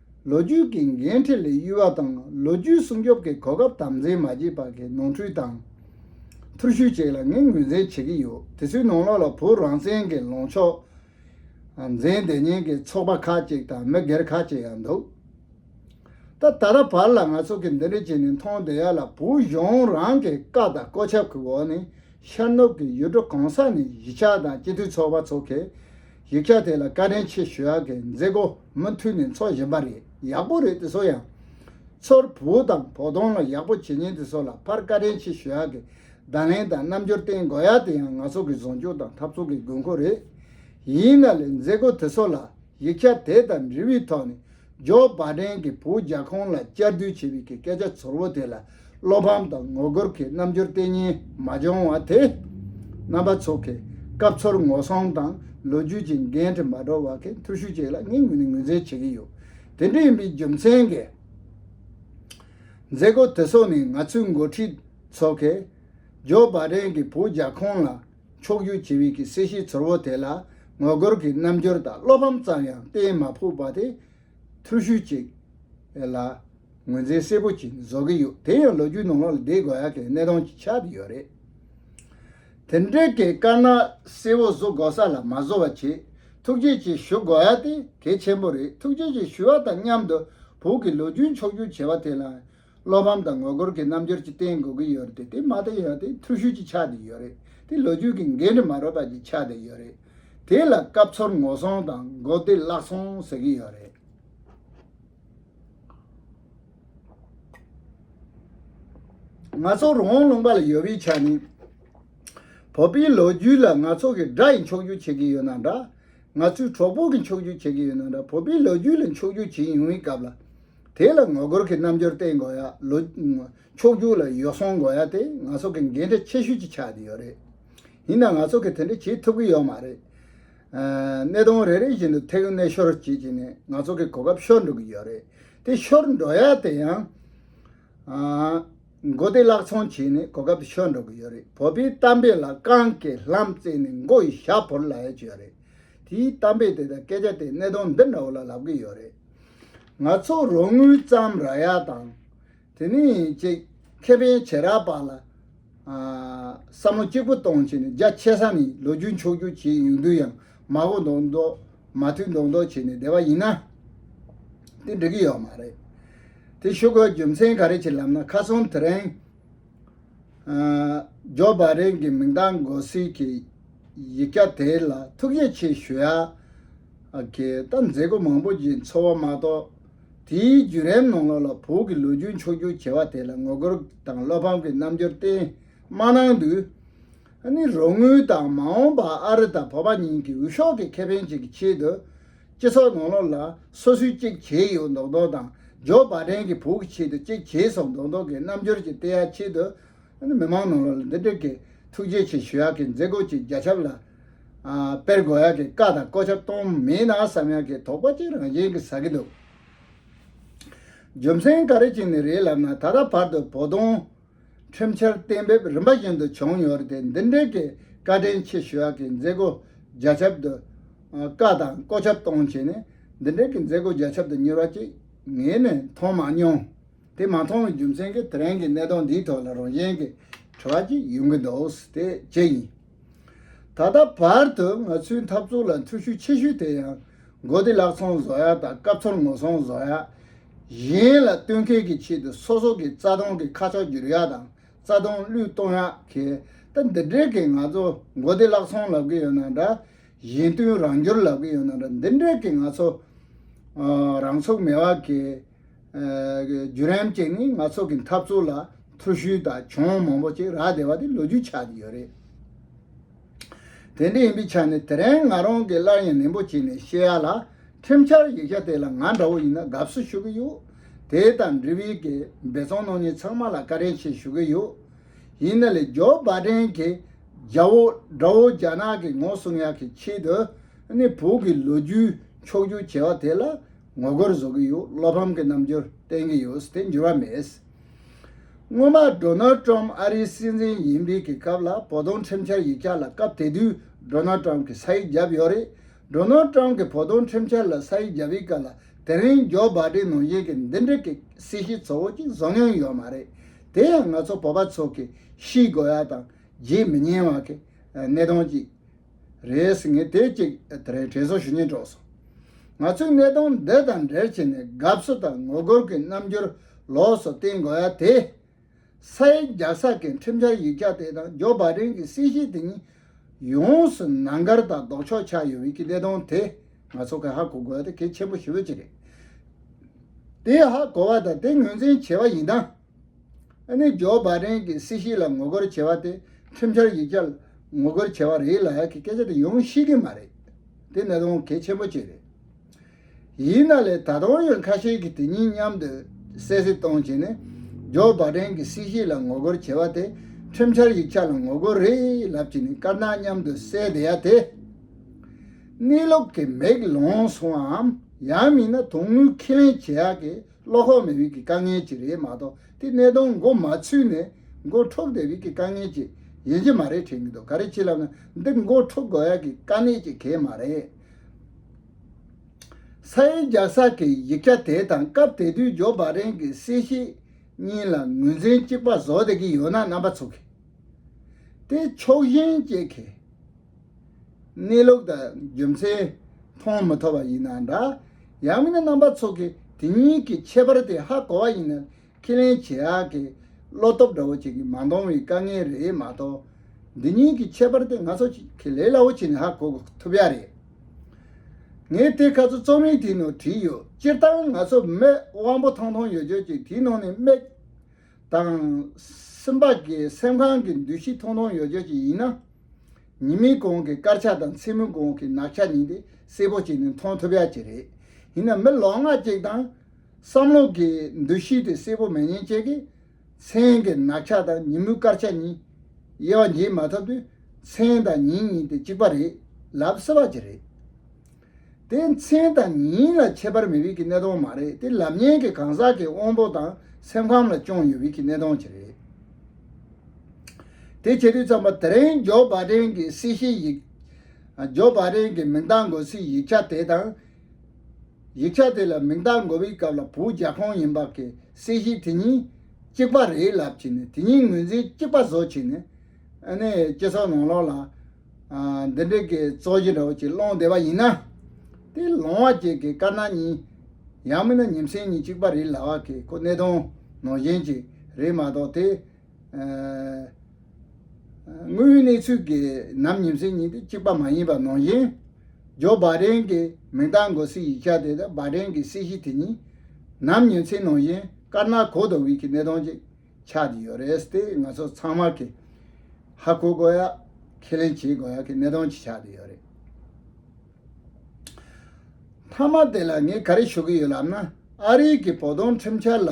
ལོ་རྒྱུས་ཀྱི་འགན་འཁྲི་ལས་གཡོལ་བ་དང་ལོ་རྒྱུས་སྲུང་སྐྱོབ་ཀྱི་གོ་སྐབས་དམ་འཛིན་མ་བྱས་པར་གྱི་ནོར་འཁྲུལ་དང། ཐུར་ཤུལ་བཅས་ལ་ངས་ངོས་འཛིན་བྱེད་ཀྱི་ཡོད་དེ་ཚོའི་ནང་ལོགས་ལ་བོད་རང་བཙན་གྱི་ལངས་ཕྱོགས་འཛིན་བདེ་ཉེན་གྱི་ཚོགས་པ་ཁག་ཅིག་དང་མི་སྒེར་ཁག་ཅིག་ཡང་འདུག་ད་ད་ལྟ་བར་ལ་ང་ཚོ་གིས་འདི་འདྲའི་བྱས་ནས་མཐོང་བསྡད་ཡ་ལ་བོད་གཞུང་རང་གི་བཀའ་དང་བཀོད་ཁྱབ་ཀྱི་འོག་ནས་ཤར་ནུབ་ཀྱི་ཡུལ་གྲུ་གང་ས་ནས་གཞིས་ཆགས་དང་སྤྱི་འཐུས་ཚོགས་པ་ཚོགས་མཁན་ཡིག་ཆ་དེ་ལ་བཀའ་དྲིན་ཆེ་ཞུ་ཡག་གི་མཛད་སྒོ་མུ་མཐུད་ནས་འཚོག་བཞིན་པ་རེད་ཡག་པོ་རེད་དེ་ཚོ་ཡང། ཚོར་བུ་དང་བོགས་གཏོང་ལ་ཡག་པོ་བྱེད་ཉེན་དེ་ཚོ་ལ་ཕར་བཀའ་དྲིན་ཆེ་ཞུ་ཡག་གི་བརྡ་ལན་དང་རྣམ་འགྱུར་བསྟན་དགོས་ཡག་དེ་ཡང་ང་ཚོ་གི་བཟོ་འཇུག་དང་འཐབ་ཚོགས་གི་དགོས་མཁོ་རེད། ཡིན་ན་ལས་མཛད་སྒོ་དེ་ཚོ་ལ་ཡིག་ཆ་དེ་དང་འབྲེལ་བའི་ཐོག་ནས་ཇོ་བ་བྲན་གྱི་བུ་རྒྱ་ཁོང་ལ་བཅར་བསྡུར་བྱེད་པའི་གི་སྐད་ཆ་ཚོར་བོ་དེ་ལ་བློ་ཕམ་དང་ངོ་རྒོལ་གྱི་རྣམ་འགྱུར་གཏན་ཉིན་མ་བྱུང་བ་དེ། རྣམ་པ་ཚོ་གི་སྐབས་ཚོར་ངོ་སྲུང་དང་ལོ་རྒྱུས་ཀྱི་འགན་འཁྲི་མ་བསྒྲུབས་བ་གི་འཐུར་ཤུགས་ཅིག་ལ་ངས་ངོས་ནས་ངོས་འཛིན་བྱེད་ཀྱི་ཡོད། དེ་འདྲ་ཡིན་པའི་རྒྱུ་མཚན་གི་མཛད་སྒོ་དེ་སོགས་ནི་ང་ཚོའི་མགོ་ཁྲིད་ཚོ་གི་ཇོ་བ་བྲན་གྱི་བུ་རྒྱ་ཁོང་ལ་ཕྱོགས་རྒྱུད་ཇི་བས་ཀྱི་སྲིད་ཞིའི་ཚོར་བ་དེ་ལ་ངོ་རྒོལ་གྱི་རྣམ་འགྱུར་དང་བློ་ཕམ་ཙམ་ཡང་བསྟན་མ་ཕོད་པ་དེ་ཐུགས་ཤུགས་ཅིག་ལ་ངོས་འཛིན་གསལ་པོ་ཅིག་བཟོ་གི་ཡོད་དེ་ཡང་ལོ་རྒྱུས་ནང་ལོག་ལ་བསྡད་དགོས་ཡག་གི་གནས་སྟངས་ཅིག་ཆགས་ཀྱི་ཡོད་རེད། དེ་འབྲེལ་གྱི་དཀར་ནག་གསལ་བོ་བཟོ་དགོས་ས་ལ་མ་བཟོ་བ་ཆེད་ཐུགས་རྗེ་ཆེ་ཞུ་དགོས་ཡག་དེ་གལ་ཆེན་པོ་རེད་ཐུགས་རྗེ་ཆེ་ཞུ་བ་དང་མཉམ་དུ་བོད་ཀྱི་ལོ་རྒྱུས་མཆོག་གྱུར་བྱས་པ་དེ་ལའང་བློ་ཕམ་དང་ངོ་རྒོལ་གྱི་རྣམ་འགྱུར་གྱི་སྟེང་དགོས་ཀྱི་ཡོད་རེད་དེ་མ་ཏི་ཡོད་དེ་འཐུས་ཤོར་གྱི་ཆ་དེ་ཡོད་རེད་དེ་ལོ་རྒྱུས་ཀྱི་འགན་འཁྲི་མ་རོལ་པ་གྱི་ཆ་དེ་ཡོད་རེད་དེ་ལ་སྐབས་འཚོལ་ངོ་སོང་དང་མགོ་བདེ་བླག་སོང་ཟེར་གྱི་ཡོད་རེད། ང་ཚོ་རོང་བོ་ལུང་པ་ལ་ཡོད་པའི་ཆ་ནས་བོད་པའི་ལོ་རྒྱུས་ལ་ང་ཚོ་གི་དགྲ་ཡི་འཁྱོག་རྒྱུག་བྱེད་ཀྱི་ཡོད་ན་འདྲ་ང་ཚོའི་གྲོགས་པོ་གི་འཁྱོག་རྒྱུག་བྱེད་ཀྱི་ཡོད་ན་འདྲ་བོད་པའི་ལོ་རྒྱུས་ལ་འཁྱོག་རྒྱུག་བྱེད་ཡོང་བའི་སྐབས་ལ། དེ་ལ་ངོ་རྒོལ་གྱི་རྣམ་འགྱུར་བསྟན་དགོས་ཡ། ལོ། ཕྱོགས་རྒྱུགས་ལ་ཡོ་བསྲང་དགོས་ཡ་དེ་ང་ཚོ་གི་འགན་འཁྲི་ཆེ་ཤོས་ཀྱི་ཆ་དེ་ཡོད་རེད། ཡིན་ན་ང་ཚོ་གི་དེ་འདྲ་བྱེད་ཐུབ་གི་ཡོད་མ་རེད། གནས་སྟངས་རེ་རེ་བཞིན་དུ་ཐེག་གནས་ཤོར་བྱེད་བྱེད་ནས་ང་ཚོ་གི་གོ་སྐབས་ཤོར་འགྲོ་གི་ཡོད་རེད། དེ་ཤོར་འགྲོ་ཡ་དེ་ཡང། མགོ་བདེ་བཀླགས་ཚོང་བྱེད་ནས་གོ་སྐབས་དེ་ཤོར་འགྲོ་གི་ཡོད་རེད། བོད་པའི་གཏམ་དཔེ་ལ་རྐང་གི་ལྷམ་བཙལ་ནས་མགོ་ཡི་ཞྭ་བོར་ལ་ཡ་གྱི་ཡོད་རེད། དེའི་གཏམ་དཔེ་དེ་དང་སྐད་ཆ་དེ་གནས་སྟངས་འདི་འདྲ་བོ་ལ་ལབ་གི་ཡོད་རེད། ང་ཚོ་རོགས་དངུལ་ཙམ་རག་ཡ་དང་དེ་ནི་ཅེག་ཁེ་ཕན་བྱེད་རག་པ་ལ་བསམ་བློ་གཅིག་པུ་གཏོང་བྱེད་ནི་རྒྱ་ཆེ་ས་ནི་ལོ་རྒྱུས་མཆོག་རྒྱུ་བྱེད་ཡུན་དུས་ཡང་མ་གོ་མདོག་མདོག་མ་མཐུད་མདོག་མདོག་བྱེད་ནས་བསྡད་པ་ཡིན་ན་དེ་འགྲིག་གི་ཡོད་མ་རེད་དེ་ཤུགས་རྒྱུ་མཚན་ག་རེ་བྱེད་ལབ་ན་ཁ་སང་དེ་རིང། ཇོ་བཱ་རེན་གྱི་མིང་བརྡ་འགོད་སའི་གི་ཡིག་སྐྱ་དེ་ལ་ཐུགས་རྗེ་ཆེ་ཞུ་ཡ། གི་ད་མཛེས་སྒོ་མང་པོ་གྱི་འཚོ་བ་མ་གཏོགས། དེའི་བརྒྱུད་རེམ་ནང་ལོགས་ལ་བོད་ཀྱི་ལོ་རྒྱུས་མཆོག་གྱུར་བྱེ་བ་དེ་ལ་ངོ་རྒོལ་དང་བློ་ཕམ་གྱི་རྣམ་འགྱུར་བསྟན་མ་གནང་དུས། ནི་རོགས་དངུལ་དང་མ་འོངས་པ་ཨ་རི་དང་བོད་པ་གཉིས་ཀྱི་འུད་ཤོབ་ཀྱི་ཁེ་ཕན་ཅིག་གི་ཆེད་དུ། སྤྱི་ཚོགས་ནང་ལོགས་ལ་སོ་སོའི་གཅིག་གྱེས་ཡོད་མདོག་མདོག་དང་ཇོ་བ་བྲན་གྱི་བུ་གི་ཆེད་དུ་གཅིག་གྱེས་སོང་མདོག་མདོག་གི་རྣམ་འགྱུར་གྱི་བལྟས་ཡག་ཆེད་དུ། མི་མང་ནང་ལོགས་ལ་འདི་དྲུག་གིས་ཐུགས་རྗེ་ཆེ་ཞུ་ཡག་གི་མཛད་སྒོ་གཅིག་རྒྱ་ཁྱབ་ལ་སྤེལ་དགོས་ཡག་གི་བཀའ་དང་བསྐོ་ཆ་གཏོང་མིན་ན་བསམ་ཡག་གི་དོགས་པ་གཅིག་རང་བཞིན་གྱི་ཟ་གི་འདུག། རྒྱུ་མཚན་ག་རེ་གཅིག་ནི་རེད་ལབ་ན་ད་ལྟ་བར་དུ་བོ་དོང། ཁྲིམས་འཆར་གཏན་འབེབས་རིམ་པ་བཞིན་དུ་བྱུང་ཡོད་རེད་དེ་འདི་འབྲེལ་གྱི་བཀའ་དྲིན་ཆེ་ཞུ་བ་གི་མཛད་སྒོ་རྒྱ་ཁྱབ་ཏུ་བཀའ་དང་བཀོད་ཁྱབ་གཏོང་བྱས་ནས་འདི་འབྲེལ་གྱི་མཛད་སྒོ་རྒྱ་ཁྱབ་ཏུ་གཉེར་བ་གཅིག་ངས་ནི་མཐོང་མ་མྱོང། དེ་མ་མཐོང་བའི་རྒྱུ་མཚན་གྱིས་དེ་རིང་གི་གནད་དོན་འདིའི་ཐོག་ལ་རང་གཞན་གྱི་དྲི་བ་གཅིག་ཡོང་གི་འདུག་དེ་ཅི་ཡིན། ད་ལྟ་བར་དུ་ང་ཚོའི་འཐབ་རྩོད་ལ་འཐུས་ཤུགས་ཆེ་ཤོས་དེ་ཡང་མགོ་བདེ་གླགས་ཚོང་བཟོ་ཡག་དང་སྐབས་ཚོར་ངོ་སྲུང་བཟོ་ཡག་གཞན་ལ་བསྟུན་མཁས་ཀྱི་ཆེད་དུ་སོ་སོ་གི་རྩ་དོན་གྱི་ཁ་ཕྱོགས་བསྒྱུར་ཡག་དང་རྩ་དོན་བློས་གཏོང་ཡག་གི་ད་འདི་འདྲའི་གི་ང་ཚོ་མགོ་བདེ་གླགས་ཚོང་ལབ་གི་ཡོད་ན་འདྲ་གཞན་བསྟུན་རང་སྒྱུར་ལབ་གི་ཡོད་ན་འདྲ་འདི་འདྲའི་གི་ང་ཚོ་རང་ཚུགས་མེད་བ་གི། བརྒྱུད་རིམ་གཅིག་ནི་ང་ཚོ་གི་འཐབ་རྩོད་ལ་ཐུར་ཤུལ་དང་གྱོང་མང་པོ་ཅིག་རག་བསྡད་པ་དེ་ལོ་རྒྱུས་ཆགས་ཀྱི་ཡོད་རེད། དེ་འདྲ་ཡིན་པའི་ཆ་ནས་དེ་རིང་ང་རང་གིས་སླར་ཡང་ནན་པོ་བྱས་ནས་བཤད་ཡ་ལ། ཁྲིམས་འཆར་ཡིག་ཆ་དེ་ལ་ང་འདྲ་བོ་ཡིན་ན་དགའ་བསུ་ཞུ་གི་ཡོད། དེ་དང་འབྲེལ་བའི་གི་འབད་བརྩོན་གནང་མྱི་ཚང་མ་ལ་བཀའ་དྲིན་ཆེ་ཞུ་གི་ཡོད། ཡིན་ན་ལས་ཇོ་བ་དྲན་གི་རྒྱ་བོ་འདྲ་བོ་རྒྱ་ནག་གི་ངོ་སྲུང་ཡག་གི་ཆེད་དུ་ནི་བོད་ཀྱི་ལོ་རྒྱུས་འཁྱོག་རྒྱུ་བྱས་བ་དེ་ལ། ངོ་རྒོལ་བཟོ་གི་ཡོད་བློ་ཕམ་གྱི་རྣམ་འགྱུར་བསྟན་གྱི་ཡོད་དེ་འགྱུར་བ་མེད། སྔོན་མ Donald Trump ཨ་རིའི་སྲིད་འཛིན་ཡིན་པའི་གི་སྐབས་ལ་བོ་དོང་ཁྲིམས་འཆར་ཡིག་ཆ་ལ་སྐབས་དེ་དུས Donald Trump གི་ས་ཡིག་བརྒྱབ་ཡོད་རེད Donald Trump གི་བོ་དོང་ཁྲིམས་འཆར་ལ་ས་ཡིག་བརྒྱབ་ཡི་སྐབས་ལ་དེ་རིང Joe Biden ནང་བཞིན་གི་འདི་འདྲི་གི་སྲིད་ཞི་ཚོ་བོ་གཅིག་བཟོ་མྱོང་ཡོད་མ་རེད་དེ་ཡང་ང་ཚོ་བོ་པ་ཚོ་གི་ཤི་དགོས་ཡ་དང་བརྗེད་མི་ཉན་བ་གི་གནས་སྟངས་ཅིག་རེད། ངས་དེ་གཅིག་དེ་རེད་དྲན་གསོ་ཞུ་ཉེན་དཀྲོགས་སོང། ང་ཚོས་གནས་སྟངས་འདི་དང་འབྲེལ་བྱས་ནས་དགའ་བསུ་དང་ངོ་རྒོལ་གྱི་རྣམ་འགྱུར་ལོགས་སུ་བསྟན་དགོས་ཡ་དེ། ས་ཡི་རྒྱ་བསགས་མཁན་ཁྲིམས་འཆར་ཡིག་ཆ་དེ་དང་ཇོ་བྷ་ཏན་གྱི་སྲིད་ཞི་དེ་གཉིས་ཡོངས་སུ་ནང་འགར་དང་ལྡོག་ཕྱོགས་ཆགས་ཡོད་མེད་ཀྱི་གནས་སྟངས་དེ་ང་ཚོ་གས་ཧ་གོ་དགོས་ཡ་དེ་གལ་ཆེན་པོ་ཞེ་བོ་གཅིག་རེད། དེ་ཧ་གོ་བ་དང་དེ་ངོས་འཛིན་བྱས་པ་ཡིན་སྟངས། ཨ་ནི་ཇོ་བཱ་རེན་གྱི་སྲིད་ཞི་ལ་ངོ་རྒོལ་བྱེད་པ་དེ་ཁྲིམས་འཆར་ཡིག་ཆ་ལ་ངོ་རྒོལ་བྱེད་པ་རེད་ལགས་ཀྱི་སྐད་ཆ་དེ་ཡོང་ཤེས་ཀྱི་མ་རེད། དེ་གནད་དོན་གལ་ཆེན་པོ་གཅིག་རེད། ཡིན་ན་ལས་ད་དུང་ཡོད་ཁ་ཤས་ཀྱིས་དེ་གཉིས་མཉམ་དུ་གསལ་བཤད་གཏོང་བྱས་ནས་ཇོ་བཱ་རེན་གྱི་སྲིད་ཞི་ལ་ངོ་རྒོལ་བྱེད་པ་དེ་ཁྲིམས་འཆར་ཡིག་ཆ་ལ་ངོ་རྒོལ་རེད་ལབ་ཀྱི་ནི་དཀར་ནག་མཉམ་དུ་བསྲེས་བསྡད་ཡ་དེ་གནས་ལུགས་ཀྱི་མེག་ལོང་སོང་བའམ་ཡང་མིན་ན་དོན་དངོས་ཁས་ལེན་བྱེད་ཡག་གི་བློ་ཁོག་མེད་རིགས་ཀྱི་དཀའ་ངལ་གྱིས་རེད་མ་གཏོགས་དེ་གནད་དོན་མགོ་མ་ཚུད་ནས་མགོ་འཕྲོག་དེ་རིགས་ཀྱི་དཀའ་ངལ་གྱིས་ཡིན་གྱི་མ་རེད་དྲན་གྱི་འདུག་ག་རེ་ཅི་ལབ་ན་འདི་མགོ་འཕྲོག་དགོས་ཡག་གི་དཀའ་གནད་ཅིག་གས་མ་རེད། ས་ཡའི་རྒྱ་བསགས་ཀྱི་ཡིག་ཆ་དེ་དང་སྐབས་དེ་དུས་ཇོ་བྷ་རེན་གྱི་གསལ་བཤད་གཉིས་ལ་ངོས་འཛིན་གཅིག་པ་བཟོ་བསྡད་ཀྱི་ཡོད་ན་རྣམ་པ་ཚུགས་གི། དེ་ཕྱོགས་ཞེན་སྐྱེས་གི། གནས་ལུགས་དང་རྒྱུ་མཚན་མཐོང་མི་ཐུབ་པ་ཡིན་ན་འདྲ། ཡང་མིན་ན་རྣམ་པ་ཚོགས་ཀྱི་དེ་གཉིས་ཀྱི་ཁྱད་པར་དེ་ཧ་གོ་བ་ཡིན་ན་ཁས་ལེན་བྱེད་ཡག་གི་བློ་སྟོབས་འདྲ་བོ་བྱེད་ཀྱི་མ་མཐོང་བའི་དཀའ་ངལ་རེད་མ་གཏོགས་འདི་གཉིས་ཀྱི་ཁྱད་པར་དེ་ང་ཚོ་ཁས་ལེན་སླ་བོ་བྱས་ནས་ཧ་གོ་ཐུབ་ཡག་རེད། ངས་དེ་ག་ཚོད་རྩོམ་ཡིག་དེའི་ནང་བྲིས་ཡོད་སྤྱིར་བཏང་ང་ཚོ་མི་དབང་པོ་ཐང་ཐང་ཡོད་རྒྱུ་གཅིག་དེའི་ནང་ནས་སྨད་དང། སེམས་པ་ཀྱི་སེམས་ཁམས་ཀྱི་འདུ་ཤེས་ཐུང་ཐུང་ཡོད་ཆོག་ཅིག་ཡིན་ན། ཉིན་མིན་གོང་གི་དཀར་ཆ་དང་ཚེས་མིན་གོང་གི་ནག་ཆ་ཉིད་དེ་གསལ་པོ་བྱས་ནས་མཐོང་ཐུབ་ཡག་ཅིག་རེད། ཡིན་ན་མི་ལོ་ལྔ་གཅིག་དང། བསམ་བློ་ཀྱི་འདུ་ཤེས་དེ་གསལ་པོ་མེད་ཉེན་བྱས་ཀྱི། མཚན་གྱི་ནག་ཆ་དང་ཉིན་མོའི་དཀར་ཆ་གཉིས། དབྱེ་བ་འབྱེད་མ་ཐུབ་དུས་མཚན་དང་ཉིན་གཉིས་དེ་གཅིག་པ་རེད་ལབ་སྲིད་པ་ཅིག་རེད། དེ་མཚན་དང་ཉིན་ལ་ཁྱད་པར་མེད་བིད་ཀྱི་གནས་སྟོང་མ་རེད་དེ་ལམ་ཉན་གྱི་གང་ཟག་གི་དབང་པོ་དང་སེམས་ཁམས་ལ་ཅོང་ཡོད་བིད་ཀྱི་གནས་སྟོང་གཅིག་རེད། དེ་བྱེད་དུས་ཚང་མ་དེ་རིང་ཇོ་བ་ཀྲེན་གྱི་སྲིད་ཞིའི་ཡིག་ཇོ་བ་ཀྲེན་གྱི་མིང་རྟགས་འགོད་སའི་ཡིག་ཆ་དེ་དང། ཡིག་ཆ་དེ་ལ་མིང་རྟགས་འགོད་བིའི་སྐབས་ལ་བུ་རྒྱ་ཁོང་ཡིན་བག་གི་སྲིད་ཞི་དེ་གཉིས་གཅིག་པ་རེད་ལབ་ཀྱི་ནས་དེ་གཉིས་ངོས་འཛིན་གཅིག་པ་བཟོ་ཀྱི་ནས་ཨ་ནི་སྤྱི་ཚོགས་ནང་ལོག་ལ་འདི་འདྲེ་གི་གཙོ་གཞི་རོ་གཅིག་ཀློང་བདེ་བ་ཡིན་ན། དེ་ལོང་བ་བཅས་ཀྱི་དཀར་ནག་གཉིས། ཡང་མིན་ན་ཉིན་མཚན་གཉིས་གཅིག་པ་རེད་ལ་བ་གི་ཁོ་གནས་དོན་ནོར་གཞན་གཅིག་རེད་མ་གཏོགས་དེ། དངོས་ཡོད་གནས་ཚུལ་གྱི་ནམ་ཉིན་མཚན་གཉིས་དེ་གཅིག་པ་མ་ཡིན་པ་ནོར་གཞན། ཇོ་བཱ་རེན་གི་མིང་བཏགས་འགོ་སི་ཡིག་ཆ་དེ་དང་བཱ་རེན་གི་སྲིད་ཞི་དེ་གཉིས། ནམ་ཉིན་མཚན་ནོར་གཞན་དཀར་ནག་གོ་ལྡོག་དབུས་ཀྱི་གནས་དོན་གཅིག། ཆགས་ཀྱི་ཡོད་རེད་དེ་ང་ཚོ་ཚང་མ་གིས་ཧ་གོ་དགོས་ཡ་ཁས་ལེན་བྱེད་དགོས་ཡ་གི་གནད་དོན་ཅིག་ཆགས་ཀྱི་ཡོད་རེད། མཐའ་མ་དེ་ལ་ངས་ག་རེ་ཞུ་གི་ཡོད་ལབ་ན་ཨ་རིའི་གི་བོ་དོང་ཁྲིམས་འཆར་ལ་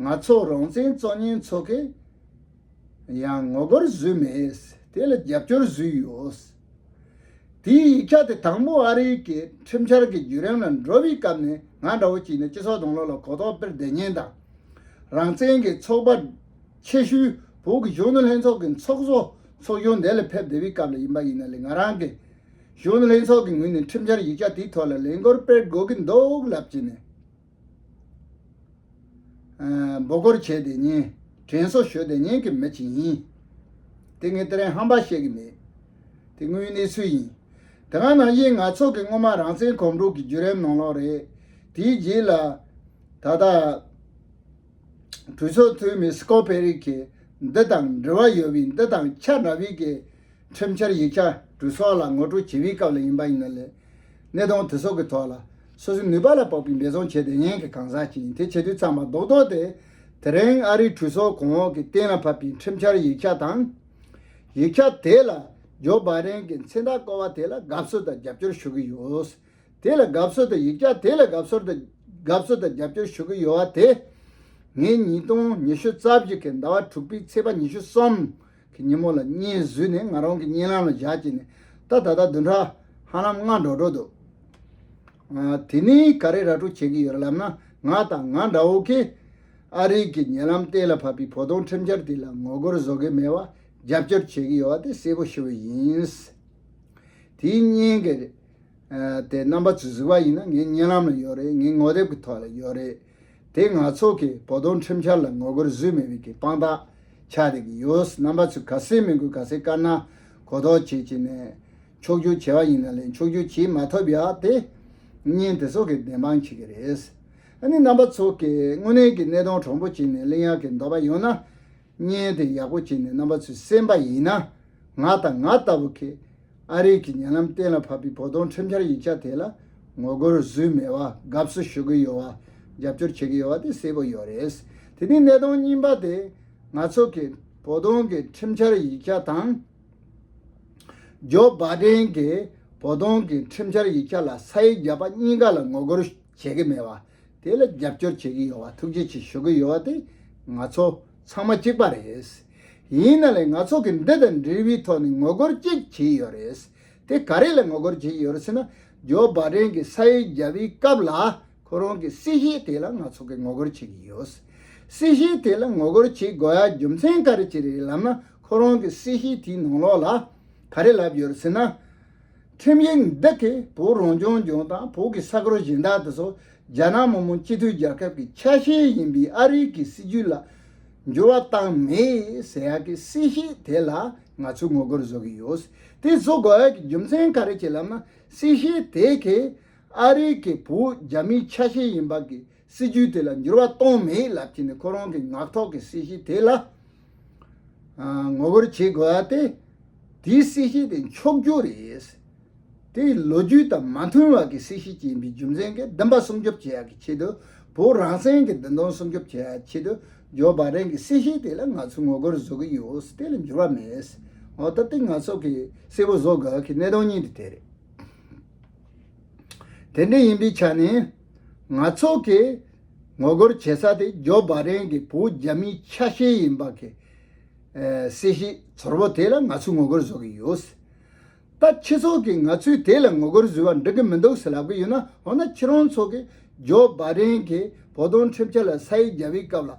ང་ཚོ་རང་བཙན་གཙོ་གཉེན་ཚོ་གིས་ཡང་ངོ་རྒོལ་བཟོས་མེད་དེ་ལ་རྒྱབ་སྐྱོར་བཟོས་ཡོད། དེའི་ཡིག་ཆ་དེ་དང་པོ་ཨ་རིའི་གི་ཁྲིམས་འཆར་གི་བརྒྱུད་རིམ་ལ་འགྲོ་བའི་སྐབས་ནས་ང་འདྲ་བོ་ཅིག་ནས་སྤྱི་ཚོགས་དང་ལོ་ལ་གོ་རྟོགས་སྤེལ་བདེ་ཉེན་དང། རང་བཙན་གི་ཚོགས་པ། ཆེ་ཤུལ་བོད་ཀྱི་གཞོན་ནུ་ལྷན་ཚོགས་ཀྱི་ཚོགས་གཙོ་ཚོགས་གཞོན་དེ་ལ་ཕེབས་བདེ་བའི་སྐབས་ལ་ཡིན་པ་ཡིན་ན་ལས་ང་རང་གི་གཞོན་ནུ་ལྷན་ཚོགས་ཀྱི་ངོས་ནས་ཁྲིམས་འཆར་ཡིག་ཆ་དེའི་ཐོག་ལ་ལན་སྐོར་སྤེལ་དགོས་ཀྱི་འདུག་ལབ་ཀྱི་ནས། འབོ་སྒོར་བྱས་དེ་ཉིན། དྲན་གསོ་ཞོར་དེ་ཉིན་གྱི་མི་ཇི་ཡིན། དེ་ངས་དེ་རིང་ཧམ་པ་བཤད་ཀྱི་མེད། དེ་དངོས་གནས་སུ་ཡིན། དེ་སྔ་ནང་བཞིན་ང་ཚོ་གི་སྔོན་མ་རང་བཙན་གོམ་བགྲོད་ཀྱི་བརྒྱུད་རིམ་ནང་ལོགས་རེད། དེའི་རྗེས་ལ། ད་ལྟ། གྲོས་ཚོགས་འཐུས་མི་སི་ཀོ་ཕེ་རིག་གིས་འདི་དང་འབྲེལ་བ་ཡོད་པའི་འདི་དང་ཆ་འདྲ་བའི་གི། ཁྲིམས་འཆར་ཡིག་ཆ་འབྲུ་སོགས་ལ་ངོ་སྤྲོད་ཇི་བཞིན་སྐབས་ལ་ཡིན་པ་ཡིན་ན་ལས་གནས་དང་དེ་སོགས་ཀྱི་ཐོག་ལ་སོ་སོའི་ནུས་པ་ལ་དཔག་པའི་འབད་བརྩོན་བྱས་ཏེ་ཉན་གྱི་གང་ཟག་ཅིག་ཡིན་དེ་བྱེད་དུས་ཚང་མ་རྡོག་རྡོག་སྟེ། དེ་རིང་ཨ་རིའི་གྲོས་ཚོགས་གོང་འོག་གིས་གཏན་ལ་ཕབ་པའི་ཁྲིམས་འཆར་ཡིག་ཆ་དང། ཡིག་ཆ་དེ་ལ་ཇོ་བྷ་རེན་གྱི་མཚན་རྟགས་བཀོལ་བ་དེ་ལ་དགའ་བསུ་དང་རྒྱབ་སྐྱོར་ཞུ་གི་ཡོད། དེ་ལ་དགའ་བསུ་དང་ཡིག་ཆ་དེ་ལ་དགའ་བསུ་དང་དགའ་བསུ་དང་རྒྱབ་སྐྱོར་ཞུ་གི་ཡོད་བ་དེ། ངས་ཉིས་སྟོང་ཉི་ཤུ་རྩ་བཞི་གི་ཟླ་བ་དྲུག་པའི་ཚེས་པ་ཉི་ཤུ་གསུམ་གི་སྙེ་མོ་ལ་སྙེ་བཟོས་ནས་ང་རང་གི་སྙེ་ལམ་ལ་བཞག་ཅེས་ནས་ད་ད་ལྟ་བདུན་ཕྲག་ཧ་ལམ་ལྔ་འགྲོ་འགྲོ་འདུག་དེ་ནས་ག་རེ་ར་སྤྲོད་བྱེད་ཀྱི་ཡོད་ལབ་ན་ང་དང་ང་འདྲ་བོ་ཀས་ཨ་རིག་གི་ཉེ་ལམ་གཏན་ལ་ཕབ་པའི་བོ་དོང་ཁྲིམས་འཆར་དེ་ལ་ངོ་རྒོལ་བཟོ་གི་མེད་པ་རྒྱབ་སྐྱོར་བྱེད་ཀྱི་ཡོད་བ་དེ་གསལ་པོ་ཤོད་བས་ཡིན། དེའི་སྙེ་གི་རེད། དེ་རྣམ་པ་ཚོས་གཟིགས་པ་ཡིན་ན་ངའི་སྙེ་ལམ་ལ་ཡོད་རེད་ངའི་ངོ་དེབ་ཀྱི་ཐོག་ལ་ཡོད་རེད། དེ་ང་ཚོ་གི་བོ་དོང་ཁྲིམས་འཆར་ལ་ངོ་རྒོལ་བཟོས་མི་དབུས་ཀྱི་དཔང་རྟགས་ཆགས་རེག་ཡོད་རྣམ་པ་ཚོས་ག་སེ་མི་དགོས་ག་སེ་དཀར་ནག་གོ་ལྡོག་བྱེད་བྱེད་ནས་འཁྱོག་རྒྱུ་བྱེད་བ་ཡིན་ན་ལས་འཁྱོག་རྒྱུ་བྱེད་མ་ཐུབ་ཡག་དེ་གཉིས་དེ་ཚོ་གི་བདེན་དཔང་བྱེད་ཀྱི་རེད། ཨ་ནི་རྣམ་པ་ཚོ་གི་དངོས་གནས་ཀྱི་གནས་སྟོང་གྲོང་པོ་བྱེད་ནས་གླེང་ཡག་གི་འདོད་པ་ཡོད་ན། བརྙན་དེ་ཡག་པོ་བྱས་ནས་རྣམ་པ་ཚོས་གསན་པ་ཡིན་ན། ང་དང་ང་ལྟ་བུ་ཁེ་ཨ་རིག་གི་ཉེ་ལམ་གཏན་ལ་ཕབ་པའི་བོ་དོང་ཁྲིམས་འཆར་ཡིག་ཆ་དེ་ལ་ངོ་རྒོལ་བཟོས་མེད་བ་དགའ་བསུ་ཞུ་གི་ཡོད་བ་རྒྱབ་སྐྱོར་བྱེད་ཀྱི་ཡོད་བ་དེ་གསལ་པོ་ཡོད་རེད། དེ་ནས་གནད་དོན་གཉིས་པ་དེ་ང་ཚོ་གིས་བོ་དོང་གི་ཁྲིམས་འཆར་ཡིག་ཆ་དང། ཇོ་སྦ་ཀྲེན་གྱིས་བོ་དོང་གི་ཁྲིམས་འཆར་ཡིག་ཆ་ལ་ས་ཡིག་བརྒྱབ་པ་གཉིས་ཀ་ལ་ངོ་རྒོལ་བྱེད་ཀྱི་མེད་བ་དེ་ལ་རྒྱབ་སྐྱོར་བྱེད་ཀྱི་ཡོད་བ་ཐུགས་རྗེ་ཆེ་ཞུ་གི་ཡོད་བ་དེ་ང་ཚོ་ཚང་མ་གཅིག་པ་རེད། ཡིན་ན་ལེ་ང་ཚོ་གི་འདི་དང་འབྲེལ་བའི་ཐོག་ནས་ངོ་རྒོལ་གཅིག་བྱས་ཡོད་རེད། དེ་ག་རེ་ལ་ངོ་རྒོལ་བྱས་ཡོད་ཟེར་ན་ཇོ་བ་ཀྲེན་གི་ས་ཡི་རྒྱལ་བའི་སྐབས་ལ་ཁོ་རང་གི་སྲིད་ཞིའི་ཐད་ལ་ང་ཚོ་གི་ངོ་རྒོལ་བྱེད་ཀྱི་ཡོད། སྲིད་ཞིའི་ཐད་ལ་ངོ་རྒོལ་བྱེད་དགོས་ཡ་རྒྱུ་མཚན་ག་རེ་བྱེད་རེད་ལབ་ན་ཁོ་རང་གི་སྲིད་ཞིའི་དེའི་ནང་ལོགས་ལ་ག་རེ་ལབ་ཡོད་ཟེར་ན། ཁྲིམས་ཡིག་འདི་གིས་བོད་རང་སྐྱོང་ལྗོངས་དང་བོད་ཀྱི་ས་ཁུལ་གཞན་དག་ཏུ་སོགས་རྒྱ་ནག་མི་དམངས་སྤྱི་མཐུན་རྒྱལ་ཁབ་ཀྱི་ཆ་ཤས་ཡིན་པའི་ཨ་རི་གྱི་སྲིད་ཇུས་ལ་འགྱུར་བ་བཏང་མེད་ཟེར་ཡག་གི་སྲིད་ཞིས་དེ་ལ་ང་ཚོས་ངོ་རྒོལ་བཟོ་གི་ཡོད། དེ་བཟོ་དགོས་ཀྱི་རྒྱུ་མཚན་ག་རེ་བྱེད་ལབ་ན་སྲིད་ཞིས་དེ་གས་ཨ་རི་གྱི་བོད་རྒྱ་མིའི་ཆ་ཤས་ཡིན་པ་གིས་སྲིད་བྱུས་དེ་ལ་འགྱུར་བ་གཏོང་མེད་ལབ་ཀྱི་ནི་ཁོ་རང་གི་ངག་ཐོག་གི་སྲིད་གཞི་དེ་ལ་ངོ་རྒོལ་བྱེད་དགོས་པ་སྟེ། དེའི་སྲིད་གཞི་དེ་འཁྱོག་རྒྱུ་རེད། དེ་ལོ་རྒྱུས་དང་མ་མཐུན་བར་གྱི་སྲིད་གཞི་ཅན་པའི་རྒྱུ་མཚན་གྱིས་བདེན་པ་སྲུང་སྐྱོབ་བྱེད་ཡག་གི་ཆེད་དུ་བོད་རང་བཙན་གྱི་བདེན་དོན་སྲུང་སྐྱོབ་བྱེད་ཡག་ཆེད་དུ་ཇོ་བ་རེན་གྱི་སྲིད་གཞི་དེ་ལ་ང་ཚོས་ངོ་རྒོལ་བཟོ་གི་ཡོད་དེ་ལ་འགྱུར་བ་མེད། འོ་ད་དེ་ང་ཚོ་གིས་གསལ་བོ་བཟོ་དགོས་གི་གནད་དོན་གཉིས་དེ་དེ་རེད། དེ་འདྲ་ཡིན་པའི་ཆ་ནས། ང་ཚོ་གིས་ངོ་རྒོལ་བྱེད་ས་དེ་ཇོ་བྷ་རེན་གྱི་བུ་རྒྱ་མིའི་ཆ་ཤས་ཡིན་པ་གི་སྲིད་གཞི་ཚོར་བོ་དེ་ལ་ང་ཚོས་ངོ་རྒོལ་བཟོ་གི་ཡོད་སྲིད། ད་ཁྱི་ཚོ་གིས་ང་ཚོས་དེ་ལ་ངོ་རྒོལ་བཟོས་པ་འགྲིག་གི་མི་འདུག་ཟེར་ལབ་གི་ཡོད་ན་འོ་ན་ཁྱི་རོང་ཚོ་གིས་ཇོ་བྷ་རེན་གྱི་བོ་དོན་ཁྲིམས་འཆར་ལ་ས་ཡིག་བརྒྱབ་པའི་སྐབས་ལ་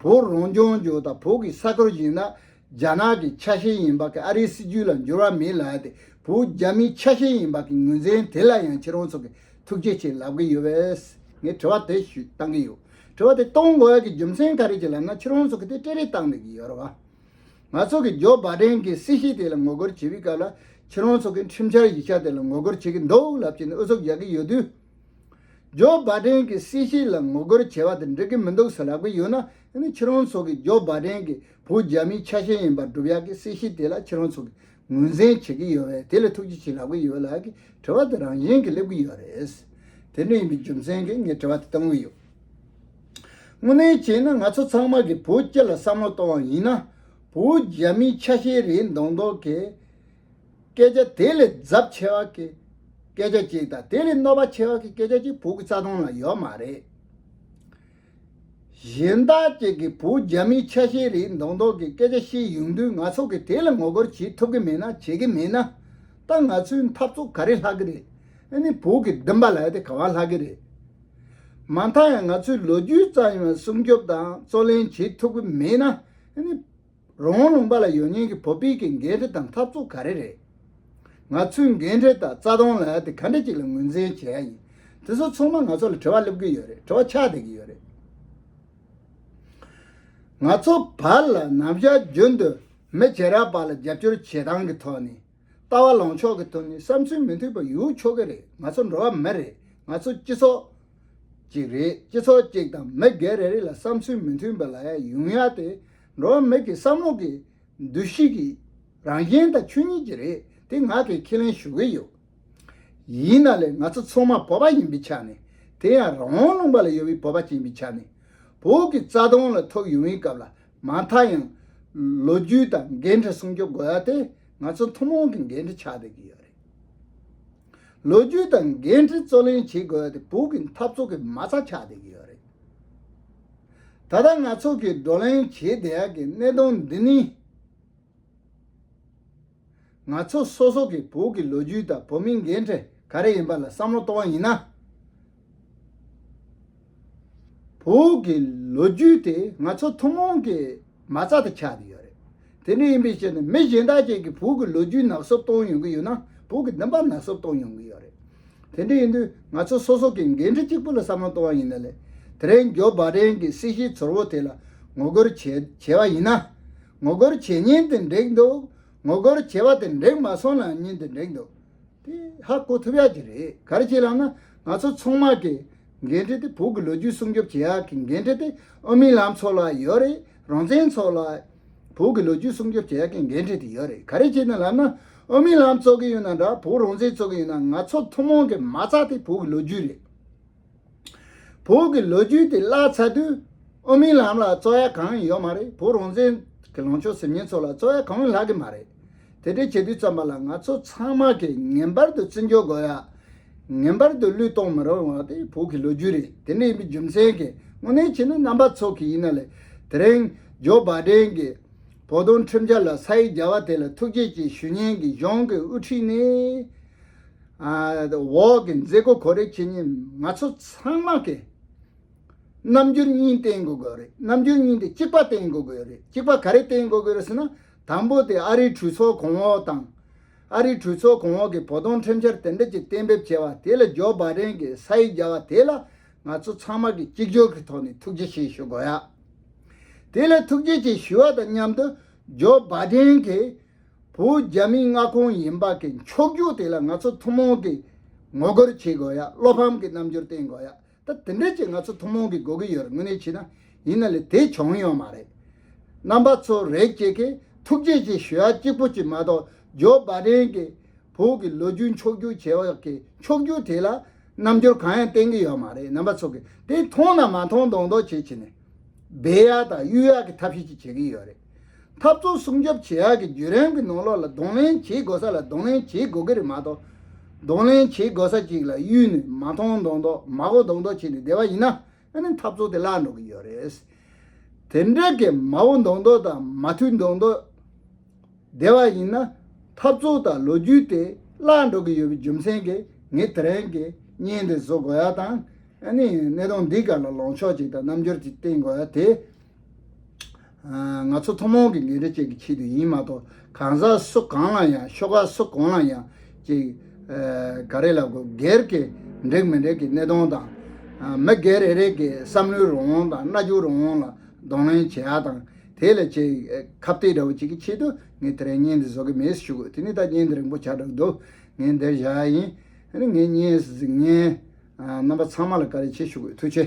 བོ་རང་སྐྱོང་ལྗོངས་དང་བོ་གི་ས་ཁུལ་ཞིག་ན་རྒྱ་ནག་གི་ཆ་ཤས་ཡིན་པ་གི་ཨ་རིའི་སྲིད་ཇུས་ལ་འགྱུར་བ་མེད་ལ་དེ་བོུ་རྒྱ་མིའི་ཆ་ཤས་ཡིན་པ་གི་ངོས་འཛིན་དེ་ལ་ཡང་ཁྱེད་རང་ཚོ་གི་ཐུགས་རྗེ་ཆེ་ལབ་གི་ཡོད་བས་ངས་དྲི་བ་དེ་ཞུས་གཏང་གི་ཡོད་དྲི་བ་དེ་གཏོང་དགོས་ཡ་གི་རྒྱུ་མཚན་ག་རེ་ཅི་ལབ་ན་ཁྱེད་རང་ཚོ་གི་དེ་སྤྲེལ་རེས་གཏང་འདོད་གི་ཡོད་རེད་བ། ང་ཚོ་གི་ཇོ་བ་ཀྲེན་གི་སྲིད་ཞི་དེ་ལ་ངོ་རྒོལ་བྱེད་པའི་སྐབས་ལ་ཁྱེད་རང་ཚོ་གི་ཁྲིམས་འཆར་ཡིག་ཆ་དེ་ལ་ངོ་རྒོལ་བྱེད་གི་འདུག་ལབ་ཀྱི་འདུག་ཨུ་ཚུགས་རྒྱག་གི་ཡོད་དུས། ཇོ་བ་ཀྲེན་གི་སྲིད་ཞི་ལ་ངོ་རྒོལ་བྱེད་པ་དེ་འགྲིག་གི་མི་འདུག་ཟེར་ལབ་གི་ཡོད་ན་ཡ་ནི་ཁྱེད་རང་ཚོ་གི་ཇོ་བ་ཀྲེན་གི་བོད་རྒྱ་མིའི་ཆ་ཤས་ཡིན་པར་སྒྲུབ་ཡག་གི་སྲིད་གཞི་དེ་ལ་ཁྱེད་རང་ཚོ་གིས་ངོས་འཛིན་བྱེད་ཀྱི་ཡོད་བས་དེ་ལ་ཐུགས་རྗེ་ཆེ་ལབ་གི་ཡོད་ལགས་ཀྱི་དྲི་བ་དེ་རང་བཞིན་གྱིས་སླེབས་ཀྱི་ཡོད་རེད། དེ་འདྲ་ཡིན་པའི་རྒྱུ་མཚན་གྱིས་ངས་དྲི་བ་དེ་གཏོང་གི་ཡོད། དངོས་གནས་བྱས་ན་ང་ཚོ་ཚང་མ་གིས་བོད་སྐྱོད་ལ་བསམ་བློ་གཏོང་བ་ཡིན་ན། བོད་རྒྱ་མིའི་ཆ་ཤས་རེད་མདོག་མདོག་གི་སྐད་ཆ་དེ་ལས་རྫབ་ཆེ་བ་གི་སྐད་ཆ་གཅིག་དང་དེ་ལས་གནོད་པ་ཆེ་བ་གི་སྐད་ཆ་གཅིག་བོད་ཀྱི་རྩ་དོན་ལ་ཡོད་མ་རེད། གཞན་དག་ཅིག་གིས་བོད་རྒྱ་མིའི་ཆ་ཤས་རེའི་མདོག་མདོག་གི་སྐད་ཆ་བཤད་ཡོང་དུས་ང་ཚོ་གིས་དེ་ལ་ངོ་རྒོལ་བྱེད་ཐུབ་གི་མེད་ན་བྱེད་གི་མེད་ན། ད་ང་ཚོའི་འཐབ་རྩོད་ག་རེ་ལྷག་གི་རེད། ཨེ་ནི་བོད་ཀྱི་བདེན་པ་ལ་དེ་ག་བ་ལྷག་གི་རེད། མ་མཐའ་ཡང་ང་ཚོས་ལོ་རྒྱུས་ཙམ་ཡང་སྲུང་སྐྱོབ་དང་རྩོད་ལེན་བྱེད་ཐུབ་གི་མེད་ན། ཨེ་ནི། རོང་བོ་ལུང་པ་ལ་ཡོད་ཉེན་གྱི་བོད་སྤེལ་གྱི་འགན་འཁྲི་དང་འཐབ་རྩོད་ག་རེ་རེད། ང་ཚོའི་འགན་འཁྲི་དག་རྩ་སྟོང་ལ་དེ་ག་འདྲ་ཅིག་ལ་ངོས་འཛིན་བྱས་ཡིན་དེ་ཚོ་ཚང་མ་ང་ཚོ་ལ་དྲི་བ་སླེབས་ཀྱི་ཡོད་རེད་དྲི་བ་ཆགས་བསྡད་ཀྱི་ཡོད་རེད། ང་ཚོ་བར་ལ་ནམ་ཞར་རྒྱུན་དུ་མི་བྱེ་ར་བར་ལ་རྒྱབ་སྐྱོར་བྱེད་སྟངས་ཀྱི་ཐོག་ནས་ལྟ་བ་ལོངས་ཕྱོགས་ཀྱི་དོན་ནི་བསམ་ཚུལ་མི་འཐུས་པ་ཡོད་ཆོག་གི་རེད་ང་ཚོ་འགྲོ་བ་མི་རེད་ང་ཚོ་སྤྱི་ཚོགས་གཅིག་རེད་སྤྱི་ཚོགས་གཅིག་དང་མི་སྒེར་རེ་རེ་ལ་བསམ་ཚུལ་མི་མཐུན་པ་ལ་ཡ་ཡུང་ཡ་སྟེ་འགྲོ་བ་མི་གི་བསམ་བློ་གི་འདུ་ཤེས་ཀྱི་རང་བཞིན་དང་ཆོས་ཉིད་ཀྱི་རེད་དེ་ང་གིས་ཁས་ལེན་ཞུ་གི་ཡོད། ཡིན་ན་ལེ་ང་ཚོ་ཚང་མ་བོད་པ་ཡིན་པའི་ཆ་ནས་དེ་ཡང་རང་དབང་ལུང་པ་ལ་ཡོད་པའི་བོད་པ་ཅན་པའི་ཆ་ནས་བོད་ཀྱི་རྩ་དོན་ལ་ཐོབ་ཡོང་བའི་སྐབས་ལ་མ་མཐའ་ཡང། ལོ་རྒྱུས་དང་འགན་འཁྲི་སྲུང་སྐྱོབ་དགོས་པ་དེ་ང་ཚོ་ཐུན་མོང་གི་འགན་འཁྲི་ཆགས་བསྡད་ཀྱི་ཡོད་རེད། ལོ་རྒྱུས་དང་འགན་འཁྲི་རྩོད་ལེན་བྱེད་དགོས་པ་དེ་བོད་ཀྱི་འཐབ་རྩོད་ཀྱི་མ་རྩ་ཆགས་བསྡད་ཀྱི་ཡོད་རེད། ད་ལྟ་ང་ཚོ་གིས་བགྲོ་གླེང་བྱེད་བསྡད་ཀྱི་གནད་དོན་འདི་ནི། ང་ཚོ་སོ་སོ་གིས་བོད་ཀྱི་ལོ་རྒྱུས་དང་བོད་མིའི་འགན་འཁྲི་ག་རེ་ཡིན་པ་ལ་བསམ་བློ་གཏོང་བ་ཡིན་ན། བོད་ཀྱི་ལོ་རྒྱུས་དེ་ང་ཚོ་ཐུན་མོང་གི་མ་རྩ་དུ་ཆགས་ཏེ་ཡོད་རེད། དེ་འདྲ་ཡིན་པའི་ཕྱིར་ན་མི་གཞན་དག་ཅིག་གིས་བོད་ཀྱི་ལོ་རྒྱུས་ནག་བསུབ་གཏོང་ཡོང་གི་ཡོད་ན་བོད་ཀྱི་བདེན་པ་ནག་བསུབ་གཏོང་ཡོང་གི་ཡོད་རེད། དེ་འདྲ་ཡིན་དུས་ང་ཚོ་སོ་སོ་གིས་འགན་འཁྲི་གཅིག་པུ་ལ་བསམ་བློ་གཏོང་བ་ཡིན་ན་ལེགས། དེ་རིང་ཇོ་སྦ་ཀྲེན་གྱི་སྲིད་ཞིའི་ཚོར་བོ་དེ་ལ་ངོ་རྒོལ་བྱས་བྱས་བ་ཡིན་ན། ངོ་རྒོལ་བྱེད་ཉིན་དེ་འགྲིག་འདུག་ངོ་རྒོལ་བྱེད་པ་དེ་འགྲིག་མ་སོང་ན་ཉིན་དེ་འགྲིག་འདུག་དེ་ཧ་གོ་ཐུབ་ཡག་གི་རེད་གར་གྱི་ལམ་ན་ང་ཚོ་ཚོང་དམག་གི་འགན་འཁྲི་དེ་བོད་ཀྱི་ལོ་རྒྱུས་སྲུང་སྐྱོབ་བྱེད་ཡག་གི་འགན་འཁྲི་དེ་ཨོ་མིན་ལམ་ཚོགས་ལ་ཡོད་རེད་རང་བཙན་ཚོགས་ལ་བོད་ཀྱི་ལོ་རྒྱུས་སྲུང་སྐྱོབ་བྱེད་ཡག་གི་འགན་འཁྲི་དེ་ཡོད་རེད་ག་རེ་བྱེད་ན་ལམ་ན་ཨོ་མིན་ལམ་བཙོག་གི་ཡོད་ན་འདྲ་བོད་རང་བཙན་བཙོག་གི་ཡོད་ན་ང་ཚོ་ཐུན་མོང་གི་མ་རྩ་དེ་བོད་ཀྱི་ལོ་རྒྱུས་རེད། བོད་ཀྱི་ལོ་རྒྱུས་དེ་བཀླགས་ཚར་དུས། ཨོ་མིན་ལམ་ལ་རྩོ་ཡ་གང་ཡང་ཡོད་མ་རེད་བོད་རང་བཙན་གྱི་ལངས་ཕྱོགས་ཟེར་མཁན་ཚོ་ལ་རྩོ་ཡ་གང་ཡང་ལྷག་གི་མ་རེད། དེ་འདྲས་བྱེད་དུས་བརྩམས་པ་ལ་ང་ཚོ་ཚང་མ་གིས་ངན་པར་དུ་བརྩི་འཇོག་དགོས་ཡ། ངན་པར་དུ་བློས་གཏོང་མི་རུང་བ་དེ་བོད་ཀྱི་ལོ་རྒྱུས་རེད་དེ་འདྲས་ཡིན་པའི་རྒྱུ་མཚན་གྱི་དངོས་གནས་ཁྱེད་ནི་རྣམ་པ་ཚོགས་ཀྱི་ཡིན་ན་ལེ། དེ་རིང་ཇོ་བཱ་དྲན་གྱི་བོད་དོན་ཁྲིམས་འཆར་ལ་ས་ཡིག་བརྒྱ་བ་དེ་ལ་ཐུགས་རྗེ་ཆེ་ཞུ་ཉན་གྱི་གཞུང་གི་དབུ་ཁྲིད་ནི། འོག་གི་མཛད་སྒོ་གོ་རེ་ཁྱེད་ཉིད་ང་ཚོ་ཚང་མ་གི་རྣམ་འགྱུར་གཉིས་བསྟན་དགོས་གི་རེད་རྣམ་འགྱུར་གཉིས་དེ་གཅིག་པ་བསྟན་དགོས་གི་རེད་གཅིག་པ་ག་རེ་བསྟན་དགོས་གི་རེད་ཟེར་ན་དང་པོ་དེ་ཨ་རིའི་གྲོས་ཚོགས་གོང་འོག་དང། ཨ་རིའི་གྲོས་ཚོགས་གོང་འོག་གི་བོ་དོང་ཁྲིམས་འཆར་དེ་འདྲ་གཅིག་གཏན་འབེབས་བྱས་བ་དེ་ལ་ཇོ་སྦ་རེན་གི་ས་ཡིག་བརྒྱ་བ་དེ་ལ་ང་ཚོ་ཚང་མ་གི་གཅིག་གྱུར་གི་ཐོག་ནས་ཐུགས་རྗེ་ཆེ་ཞུ་དགོས་ཡ། དེ་ལ་ཐུགས་རྗེ་ཆེ་ཞུ་བ་དང་མཉམ་དུ་ཇོ་སྦ་རེན་གི། བོད་རྒྱ་མི་མངའ་ཁོངས་ཡིན་པ་གི་འཁྱོག་རྒྱུགས་དེ་ལ་ང་ཚོ་ཐུན་མོང་གི་ངོ་རྒོལ་བྱེད་དགོས་ཡ་བློ་ཕམ་གི་རྣམ་འགྱུར་བསྟན་དགོས་ཡ་ད་དེ་འདྲས་ཀྱི་ང་ཚོ་ཐུན་མོང་གི་དགོས་ཀི་ཡོད་རེད་དངོས་གནས་བྱས་ན་ཡིན་ན་ལས་དེ་བྱུང་ཡོད་མ་རེད། རྣམ་པ་ཚོ་རེད་སྐྱེས་ཀི་ཐུགས་རྗེ་ཆེ་ཞུ་ཡ་གཅིག་པོ་གཅིག་མ་གཏོགས་ཇོ་བ་བསྒྲེང་གི་བོད་གི་ལོ་རྒྱུས་འཁྱོག་རྒྱུགས་བྱེད་བ་གི་འཁྱོག་རྒྱུགས་དེ་ལ་རྣམ་འགྱུར་གང་ཡང་བསྟན་གི་ཡོད་མ་རེད་རྣམ་པ་ཚོ་གི་དེ་མཐོང་ན་མ་མཐོང་མདོག་མདོག་བྱེད་བྱེད་ནས་སྦས་ཡ་དང་གཡུལ་ཡ་གི་ཐབས་ཤེས་ཅིག་བྱེད་ཀི་ཡོད་རེད། འཐབ་རྩོད་སྲུང་སྐྱོབ་བྱེད་ཡག་གི་བརྒྱུད་རིམ་གྱི་ནང་ལོགས་ལ་གདོང་ལེན་བྱེད་དགོས་ས་ལ་གདོང་ལེན་བྱེད་དགོས་ཀྱི་རེད་མ་གཏོགས། གདོང་ལེན་བྱེད་དགོས་ས་ཅིག་ལ་གཡུལ་ནས་མ་མཐོང་མདོག་མདོག་མ་གོ་མདོག་མདོག་བྱས་ནས་བསྡད་པ་ཡིན་ན་ཨ་ནི་འཐབ་རྩོད་དེ་བརླག་འགྲོ་གི་ཡོད་རེད། དེ་འདྲ་གི་མ་གོ་མདོག་མདོག་དང་མ་ཐུལ་མདོག་མདོག་བསྡད་པ་ཡིན་ན་འཐབ་རྩོད་དང་ལོ་རྒྱུས་དེ་བརླག་འགྲོ་གི་ཡོད་པའི་རྒྱུ་མཚན་གྱིས་ངས་དེ་རིང་གི་བརྙན་འདི་བཟོ་དགོས་ཡག་དང་ཨ་ནི་གནས་སྟངས་འདི་ག་ལ་ལངས་ཕྱོགས་ཅིག་དང་རྣམ་འགྱུར་ཅིག་བསྟན་དགོས་ཡག་དེ་ང་ཚོ་ཐུན་མོང་གི་ལས་འབྲས་བཅས་ཀྱི་ཆེད་དུ་ཡིན་མ་གཏོགས་གང་ཟག་སུ་གང་ལ་ཡང་ཤོ་ཁག་སུ་གང་ལ་ཡང་ཅི་ག་རེ་ལ་དགོས་སྒེར་གྱི་འགྲིག་མི་འགྲིག་གི་གནས་སྟོང་དང། མི་སྒེར་རེ་རེ་གི་བསམ་བློའི་རང་དབང་དང་རྣ་འགྱུར་རང་དབང་ལ་གདོང་ལེན་བྱེད་ཡག་དང་དེ་ལས་ཆེས་ཁ་བརྟད་འདྲ་བོ་ཅིག་གི་ཆེད་དུ་ངས་དེ་རིང་བརྙན་འདི་བཟོ་གི་མེད་ཟེར་ཞུ་དགོས་དེ་ནི་ད་བརྙན་འདི་རིང་པོ་ཆགས་གྲབས་འདུག་ངས་འདིར་བཞག་ཡ་ཡིན། ངས་བརྙན་གཟིགས་མཁན་རྣམ་པ་ཚང་མ་ལ་བཀའ་རེ་ཆེ་ཞུ་དགོས་ཐུགས་ཆེ།